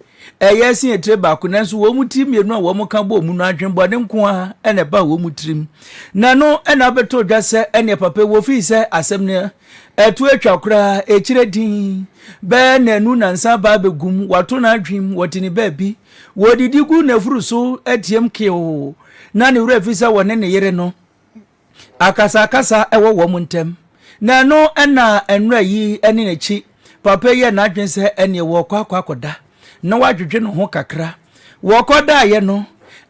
ɛyɛ se atire baako, nanso wɔn ti mmienu a wɔn ka bɔɔ mu no adwenbɔne nko ara na ɛbaa wɔn tirim. Na ɛno na abɛtɔ dwa sɛ ɛneɛ papa ɛwɔ firi sɛ asɛm no ɛto atwa koraa, ɛkyerɛ din bɛɛ na ɛnu na nsa baa bɛgum, wato no adwem wɔte ne baabi, wɔdidi gu n'afuru so ɛteam keeo, na ne werɛ fi sɛ wɔne ne yere no akasa akasa ɛwɔ wɔn ntɛm. Na ɛno na nnora yi ne n'akyi Papa yi yɛɛ n'adwene sɛ ɛneɛ wɔrekɔ akɔ akɔda na wadwedwe ne ho kakra. Wɔkɔdaeɛ no,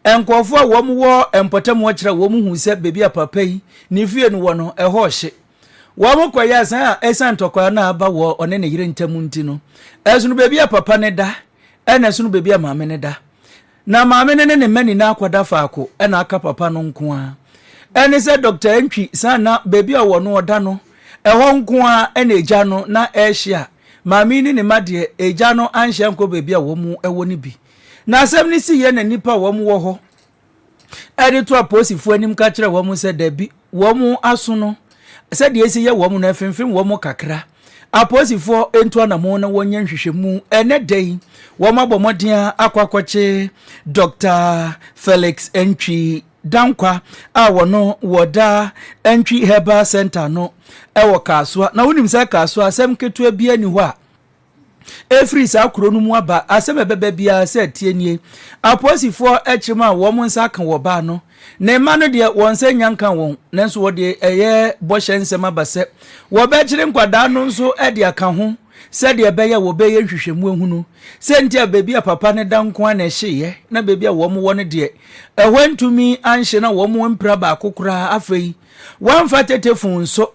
nkurɔfoɔ a wɔn wɔ mpɔtam hɔ kyerɛ wɔn hu sɛ baabi a papa yi ne fie no wɔ no, ɛhɔ ɔhye. Wɔn kɔyɛ asan a ɛsan ntɔkwa no a aba wɔ ɔne ne yere ntam nti no, ɛsono baabi a papa no da ɛna ɛsono baabi a maame no da. Na maame no ne ne mma nyinaa akɔda faako na aka papa no nko ara. Ɛne sɛ Dɔkta Antwi san na baabi a ɔwɔ no ɔda no, ɛhɔ nko ara na agya no na ɛrehyia. Maame yi ne ne mma deɛ, agya no anhyia ankɔ baabi a wɔwɔ no bi. Na asɛm no siiɛ na nnipa a wɔwɔ hɔ de to apolisifoɔ anim ka kyerɛɛ wɔn sɛ dabi, wɔn aso no, sɛdeɛ ɛsi yɛ wɔn no ɛfemfem wɔn kakra. Apolisifoɔ ntu anamon na wɔnyɛ nhwehwɛmu. Ɛnɛ da yi, wɔn abɔ mmɔden akɔ akɔkye Dr. Felix Ntwi Dankwa a wɔno wɔda Ntwi Herbal Center no ɛwɔ Kasoa. Na wonim sɛ Kasoa asɛm ketewa bi ani hɔ a, Ɛfiri saa kuro no mu aba asɛm a ɛbɛba biara sɛ tie nie, Apolisifoɔ kyerem a wɔn nsa aka wɔ baa no. Ne mma no deɛ, wɔn nsa nnya nka wɔn, nanso wɔde ɛyɛ bɔhyɛ nsɛm aba sɛ wɔbɛkyere nkwadaa no nso de aka ho sɛdeɛ ɛbɛyɛ a wɔbɛyɛ nhwehwɛmu ahunu sɛ nti a baabi a papa no da nko ara na ɛhyeeɛ na baabi a wɔn wɔ no deɛ ɛhɔ antumi anhye na wɔn ampira baako koraa. Afei, wɔamfa tetefon nso.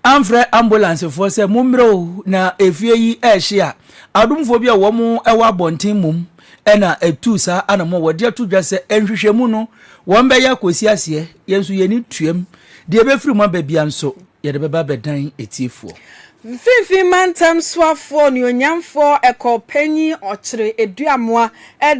amfrɛ ambulansefoɔ sɛ mommrɛ o na efie yi ɛrehye a adomfoɔ bi a wɔn wɔ abɔnten mmom ɛna ɛtuu saa anamɔ wɔde ato dwa sɛ nhwehwɛmu no wɔn bɛyɛ akɔsi aseɛ yɛn nso yɛn ani tuam deɛ ɛbɛfiri mu aba bia nso yɛde bɛba abɛdan atiefoɔ. Mfinfin Mantam Soafoɔ Onuonyamfoɔ Ɛkɔɔ Panyin Ɔkyere Aduamoa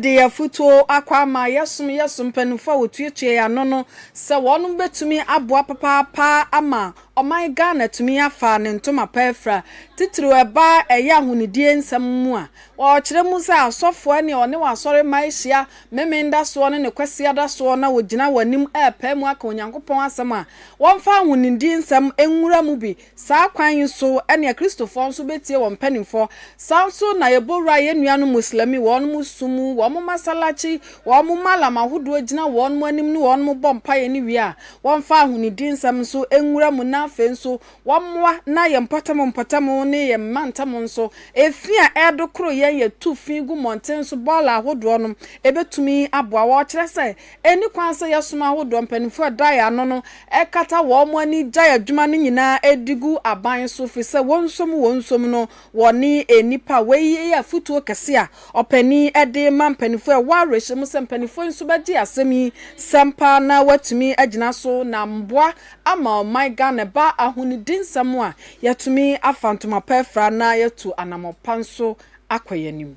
de afutuo akɔ ama yɛsom yɛsom mpaninfoɔ a wɔtuatua yɛn ano no sɛ wɔnom bɛtumi aboa papaapa ama ɔman Ghana atumi afa ne ntoma pa afira, titiriw ɛba ɛyɛ ahonidie nsɛm mu a, wɔkyerɛ mu sɛ asɔfoɔ ɛne ɔne wɔn asɔre mma ɛhyia Memen da soɔ ne ne Kwasia da soɔ na wɔgyina wɔn anim ɛrepae mu aka Onyankopɔn asɛm a wɔmfa ahonidie nsɛm nwura mu bi Saa kwan yi so na Kristofɔ nso betie wɔn mpanyimfɔ. Saa nso na yɛbɔ wura yɛn nuanom Muslimi, wɔnom som mu, wɔnom masalaci, wɔnom malam ahodoɔ gyina wɔnom anim ne wɔnom bɔ mpaeɛ ne wie a, wɔmfa ahonidi nsɛm nso nwura mu na afei nso wɔmmoa na yɛn mpɔtam mpɔtam ne yɛn mmantam nso efi a ɛredokoro yɛn yɛtu fi gu mmɔnten so bɔɔla ahodoɔ no ɛbɛtumi aboa wɔ ɔkyerɛ sɛ Enni kwan sɛ yɛsoma ahodoɔ mpanimfoɔ a ɛda yɛn ano no kata wɔn ani gyae adwuma no nyinaa de gu aban so, firi sɛ wɔn nsom wɔn nsom no, wɔne nnipa. Wei yɛ afotuo kɛse a ɔpanin de rema mpanimfoɔ. Ɛwɔ awerɛhyɛmu sɛ mpanimfoɔ nso bɛgye asɛm yi sɛm paa na wɔatumi agyina so na mmoa ama ɔman Ghana. Ɛba ahonidi nsɛm a, yɛatumi afa ntoma pa afira na yɛatu anammɔn pa nso akɔ yɛn anim.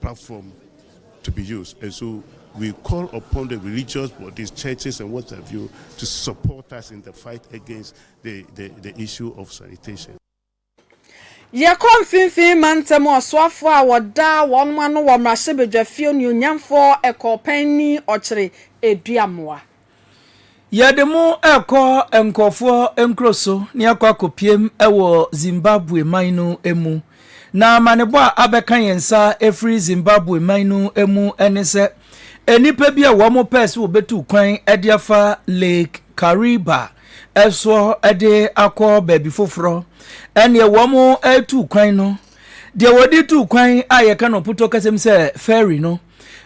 platform to be used and so we call upon the religious bodies, churches and what have you to support us in the fight against the, the, the issue of sanitation. Yɛkɔ mfimfini mantam ɔsoafoɔ a wɔdaa wɔn ano wɔ mmarahyɛbadwafie onuonyamfoɔ ɛkɔɔpanni ɔkyere eduamoa Yɛde mo rekɔ nkurɔfoɔ nkuro so na yɛakɔ akɔpiem wɔ Zimbabwe man no mu. Na amanebɔ a abɛka yɛn nsa ɛfiri Zimbabwe man no mu ne sɛ nnipa bi a wɔn pɛɛ sɛ wɔbɛtu kwan de afa Lake Kariba soɔ de akɔ baabi foforɔ ɛneɛ wɔn retu kwan no deɛ wɔde tu kwan a yɛka no ɔpotɔ kasɛm sɛ ferry no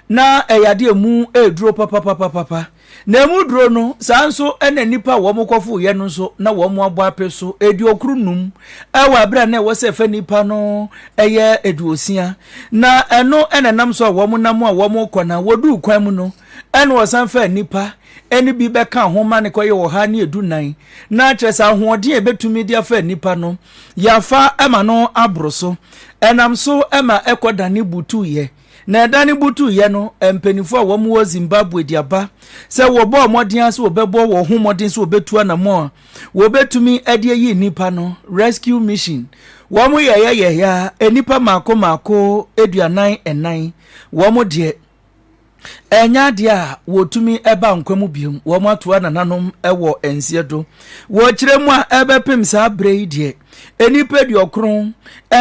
na ɛyɛ ade a emu reduro papapapapa. Na emu duro no, saa nso na nnipa a wɔkɔfoo yɛ no nso na wɔabɔ ape so aduokron num wɔ abere a na ɛwɔ sɛ ɛfɛ nnipa no yɛ aduosia. Na ɛno na ɛnam so a wɔnam a wɔkɔ na wɔduu kwan mu no na wɔsan faa nnipa ɛne bi bɛka ho ma ne kɔyɛ ɔha ne edu nan. Na kyerɛ sɛ ahoɔden a ebetumi de afa nnipa no, yɛafa ma no aboro so. Ɛnam so ma ɛkɔ dane butuuyɛ. Na ɛda no butuiɛ no, mpanimfoɔ a wɔwɔ Zimbabwe de aba sɛ wɔbɔɔ mmɔden ara sɛ wɔbɛbɔ wɔn ho mmɔden sɛ wɔbɛtu anammɔn a wɔbɛtumi de ayi nnipa no, rescue mission. Wɔyɛeɛ yɛeɛ ara, nnipa mmaako mmaako aduanan nnan, wɔn deɛ, ɛnyɛ adeɛ a wɔtumi ba nkwa mu biom, wɔn atoa nananom wɔ nseɛ do. Wɔkyerɛ mu a ɛbɛpem saa berɛ yi deɛ, Nnipa aduɔkron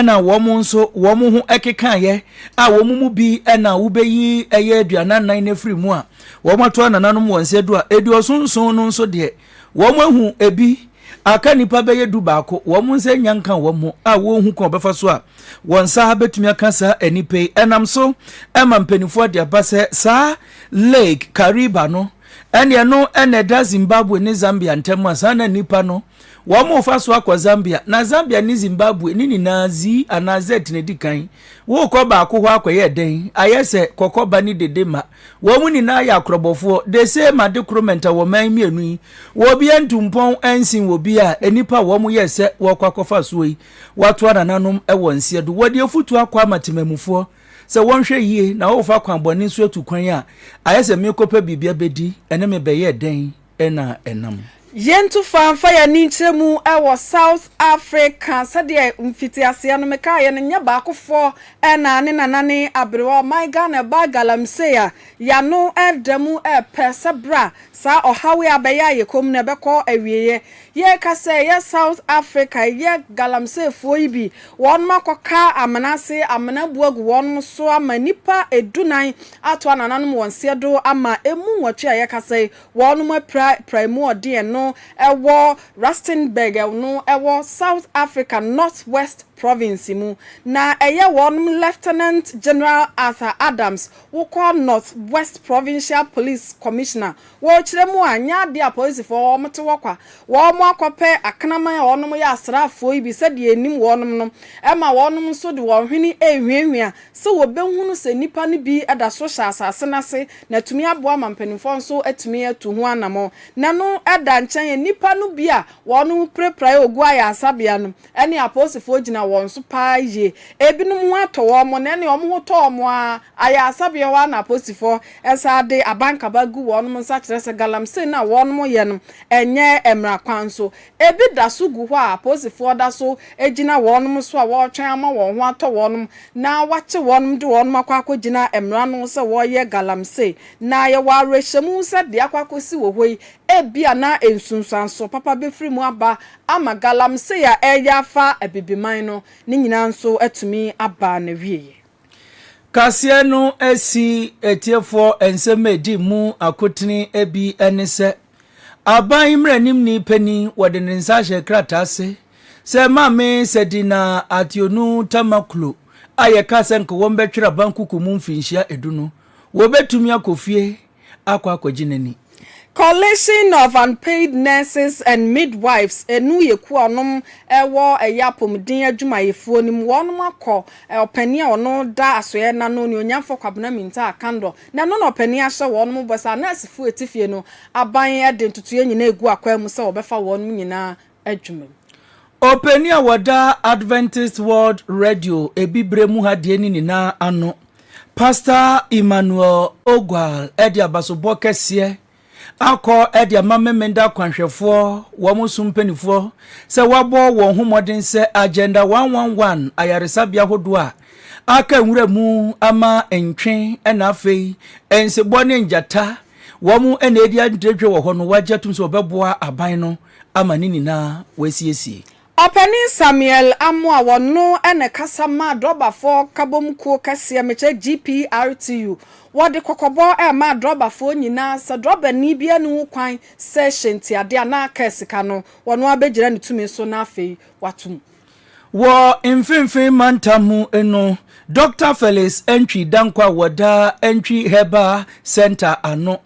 na wɔn nso wɔn ho kekaeɛ a wɔn mu bi na wobɛyi ɛyɛ aduanan nan no afiri mu a wɔn ato anananom wɔn nsa du a aduɔson nson no nso deɛ wɔn ahu ebi aka nnipa bɛyɛ du baako wɔn nsa nya nka wɔn ho a wɔnhu kɔn ɔbɛfa so a wɔn nsa bɛtumi aka saa nnipa yi ɛnam so ɛma mpanimfoɔ de aba sɛ saa lake kariba no ɛne ɛno ɛna ɛda zimbabwe ne zambia ntam a saa na nnipa no Wɔrefa so akɔ Zambia, na Zambia ne Zimbabwe ne nyinaa Z anaa Z na edi kan. Worekɔ baako hɔ akɔyɛ dɛn? Ayɛ sɛ kɔkɔ ba ne dede ma. Wɔn nyinaa yɛ akorɔbɔfoɔ. The same ade koro mɛnta wɔ man mmienu yi. Obiara ntu mpɔn nsen obiara a nnipa a wɔyɛɛ sɛ wɔrekɔ akɔfa soɔ yi, wɔatoa nananom wɔ nseɛ do. Wɔde afutuo akɔ ama temamufoɔ sɛ wɔnhwɛ yie na wɔrefa kwan bɔne so atu kwan a, ayɛ sɛ merekɔpɛ biribi abɛdi, ɛne me bɛyɛ dɛn? na ɛnam. Yɛntu fa mfa yɛn ani nkyerɛ mu wɔ South Africa. Sɛdeɛ mfitiaseɛ no mekaeɛ no, nyɛ baakofoɔ na ne nanane aberewa ɔman Ghana ɛbaa galamsey a y'ano reda mu repɛ sɛ berɛ a saa ɔhaw yi abɛyɛ ayɛ komm no ɛbɛkɔ awieɛ. Yɛreka sɛ ɛyɛ South Africa ɛyɛ galamseyfoɔ yi bi, wɔnom akɔka amena ase, amena abu agu wɔnom so ama nnipa du nan atoa nananom wɔn seɛ do ama emu nwɔtwe a yɛkasa yi, wɔnom apira pira emu ɔden ɛno ɛwɔ Rustenburg ɛno ɛwɔ South Africa North West Province mu na ɛyɛ wɔnom Lieutenant General Arthur Adams wokɔ North West Provincial Police Commissioner Wɔ ɔkyerɛ mu a, nyɛ adeɛ a polisifɔɔ a wɔte hɔ kwa, wɔn akɔpɛ akraman a wɔnom yɛ asraafɔɔ yi bi sɛdeɛ ɛnim wɔnom no, ɛma wɔnom nso de wɔn hwene rehuahua sɛ wɔbɛhunu sɛ nnipa no bi da so hyɛ asase no ase na atumi aboa ma mpanimfɔɔ nso atumi atu ho anamɔn. Na ɛno da nkyɛn a, nnipa no bi a wɔnom pirapiraeɛ Oguo ayaresabea no ne apolisifɔɔ gyina wɔn so paa yie. Ɛbinom ho atɔ wɔn na ɛnneɛ wɔn ho tɔ wɔn ara, ayaresabea hɔ ara na apolisifɔɔ Ɛsan de abankaba gu wɔnom nsa kyerɛ sɛ galamsey no a wɔnom yɛ no ɛnyɛ mmra kwan so. Ɛbi daso gu hɔ a apolisifoɔ daso gyina wɔnom so a wɔretwɛn ama wɔn ho atɔ wɔnom na wakye wɔnom de wɔnom akɔ akɔgyina mmra no sɛ wɔreyɛ galamsey. Na yɛwɔ awerɛhyɛmu sɛ deɛ akɔ akɔsi wɔ hɔ yi ɛbia na nsunsuansoɔ papa bɛfiri mu aba ama galamsey a ɛreyɛ afa abibiman no ne nyinaa nso atumi aba n'awieɛ. Kaseɛ no si atiefoɔ nsɛm a ɛdi mu akotene bi ne sɛ, Aban mmaranimni panin wɔde ne nsa ahyɛ krataa ase sɛ Maame Sadina Ationu Tamaklo a yɛkaa sɛ anka wɔbɛtwere abankoko mu mfirinhyia edu no, wɔbɛtumi akɔ fie. akɔ akɔgye n'ani. Coalition of Unpaid Nurses and Midwives, eno yɛ kuo a wɔnom wɔ ɛyɛ apomuden adwumayɛfoɔ no mu, wɔnom akɔ ɔpanin a ɔno da asoɛɛ no ano, Onuonyamfoɔ Kwabena Mintah Akandor, na ɛno na ɔpanin ahyɛ wɔnom bɔ sɛ anɛɛsefoɔ a ɛte fie no aban de ntotoeɛ nyinaa ɛgu akwan mu sɛ wɔbɛfa wɔnom nyinaa adwuma mu. Ɔpanin a wɔda Adventist World Radio Abibire mu ha deɛ no nyinaa ano, Pastor Emmanuel Ogwal de abasobɔ kɛseɛ akɔ de ama Memenda akwanhwɛfoɔ wɔn so mpanimfoɔ sɛ wɔabɔ wɔn ho mmɔden sɛ Agenda 111 ayaresabea hodoɔ a aka nwura mu ama ntwe na afei nsebɔ ne ngyata wɔn na ɛdi antiretwe wɔ hɔ no wɔagye atum sɛ wɔbɛboa aban no ama ne nyinaa wɔasiesie. Ɔpanin Samuel Amoah ɔno na ɛkasa maa Drɔbafoɔ Nkabom Kuo kɛseɛ mekyɛ GPRTU, wɔde kɔkɔbɔ remaa Drɔbafoɔ nyinaa sɛ Drɔbani biara nni ho kwan sɛ hyɛntiadeɛ anaa kaa sika no, wɔn ara bɛgyina ne tumi so na afei wɔato mu. Wɔ Mfinfin Mantam mu no, Dɔkta Felix Antwi Danko a wɔda Antwi Herbal Centre ano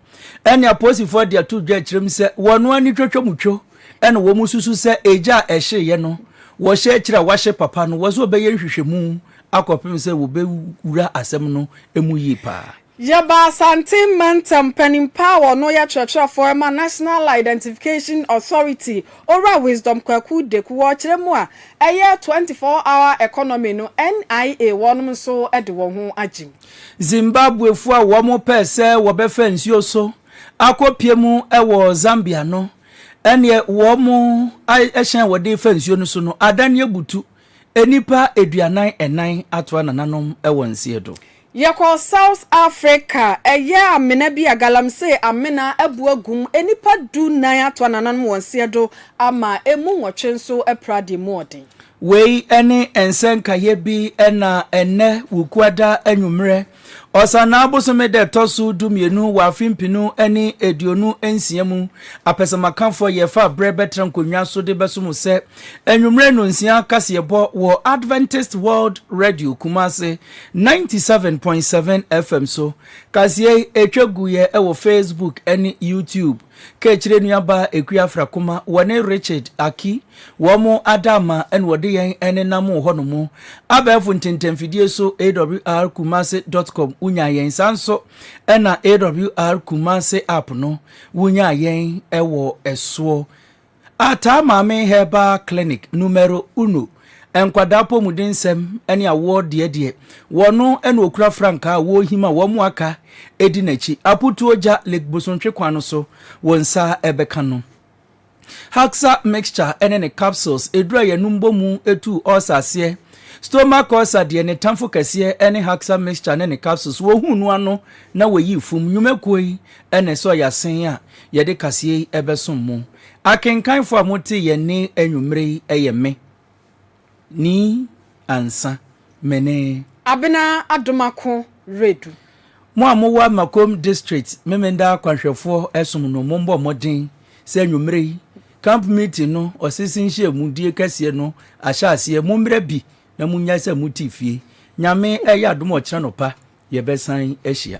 ne apolisifoɔ de ato dwa akyerɛ mu sɛ wɔn ara ne twatwamutwo na wɔsusu sɛ egya a ɛhyeeɛ no wɔhyɛ akyire a wɔahye papa no wɔsɛ wɔbɛyɛ nhwehwɛmu akɔpem sɛ wɔbɛwura asɛm no mu yie paa. Yɛbaa Asantehene Mantam Panimpa a ɔno yɛ kyerɛkyerɛfoɔ ma National Identification Authority, Owura Wisdom Kwaku Deku, wɔ ɔkyerɛ mu a ɛyɛ 24 Hour Economy no, NIA, wɔnom nso de wɔn ho agyem. Zimbabwefoɔ a wɔn pɛɛ sɛ wɔbɛfa nsuo so akɔ pie mu wɔ Zambia no, ɛneɛ wɔn hyɛn a wɔde fa nsuo no so no, adane abutu. Nnipa aduanan ɛnan atoa nananom wɔ nseɛ do. Yɛkɔ South Africa, ɛyɛ amena bi a galamsey amena abu agu mu, nnipa du nan atoa nananom wɔ nseɛ do ama ɛmu nwɔtwe nso apira deɛ mu ɔden. Wei ne nsɛnkaeɛ bi na ɛnnɛ Wukuada anwummerɛ Ɔsanaa bosome da ɛtɔ so du mmienu wɔ afe mpenu ne aduonu nsia mu, apɛsɛmakanfoɔ yɛ fa berɛ bɛtra nkonnwa so de bɛso mo sɛ anwummerɛ nnɔnsia kaseɛbɔ wɔ Adventist World Radio Kumasi 97.7 FM so. Kaseɛ yi ɛtwa guiɛ wɔ Facebook ne YouTube. Kaakyire nuabaa Akua Frakuma, wɔne Richard Aki, wɔn adaama na wɔde yɛn nenam wɔ hɔnom. Abɛɛfo ntɛntɛmfidie so AWR Kumasi dot com wonyaa yɛn, saa nso na AWR Kumasi app no wonyaa yɛn wɔ ɛsoɔ. A Taa Maame Herbal Clinic Numero Uno, Nkwadaa Apɔmudensɛm ne Awoɔ Deɛ deɛ, wɔno na ɔkura frankaa a wɔrehim a wɔn a aka di n'akyi. Aputuo gya Lake Bosontwe kwan no so, wo nsa bɛka no. Haxa Mixture ne ne Capsules, ɛduru a yɛnom bɔ mu tu ulcer aseɛ. Stomach ulcer deɛ, ne tamfo kɛseɛ ne Haxa Mixture ne ne Capsules. Wɔhu no ano na wɔyi fum. Nnwumakuo yi na ɛsɛ ɔyɛ asen a. yɛde kaseɛ yi bɛsom mo. Akenkanfoɔ a mote yɛn nne anwummere yi yɛ me, Nii Ansa, me ne. Abena Adom Ako Redu. Mo a mowɔ Amakom District Memenda Akwanhwɛfoɔ som no, mommɔ mmɔden sɛ anwummere yi Camp Meeting no, Ɔsese Nhyiamudie kɛseɛ no ahyɛ aseɛ. Mommra bi na monnyae sɛ mote fie. Nyame ɛyɛ adom a ɔkyena anɔpa yɛbɛsan ahyia.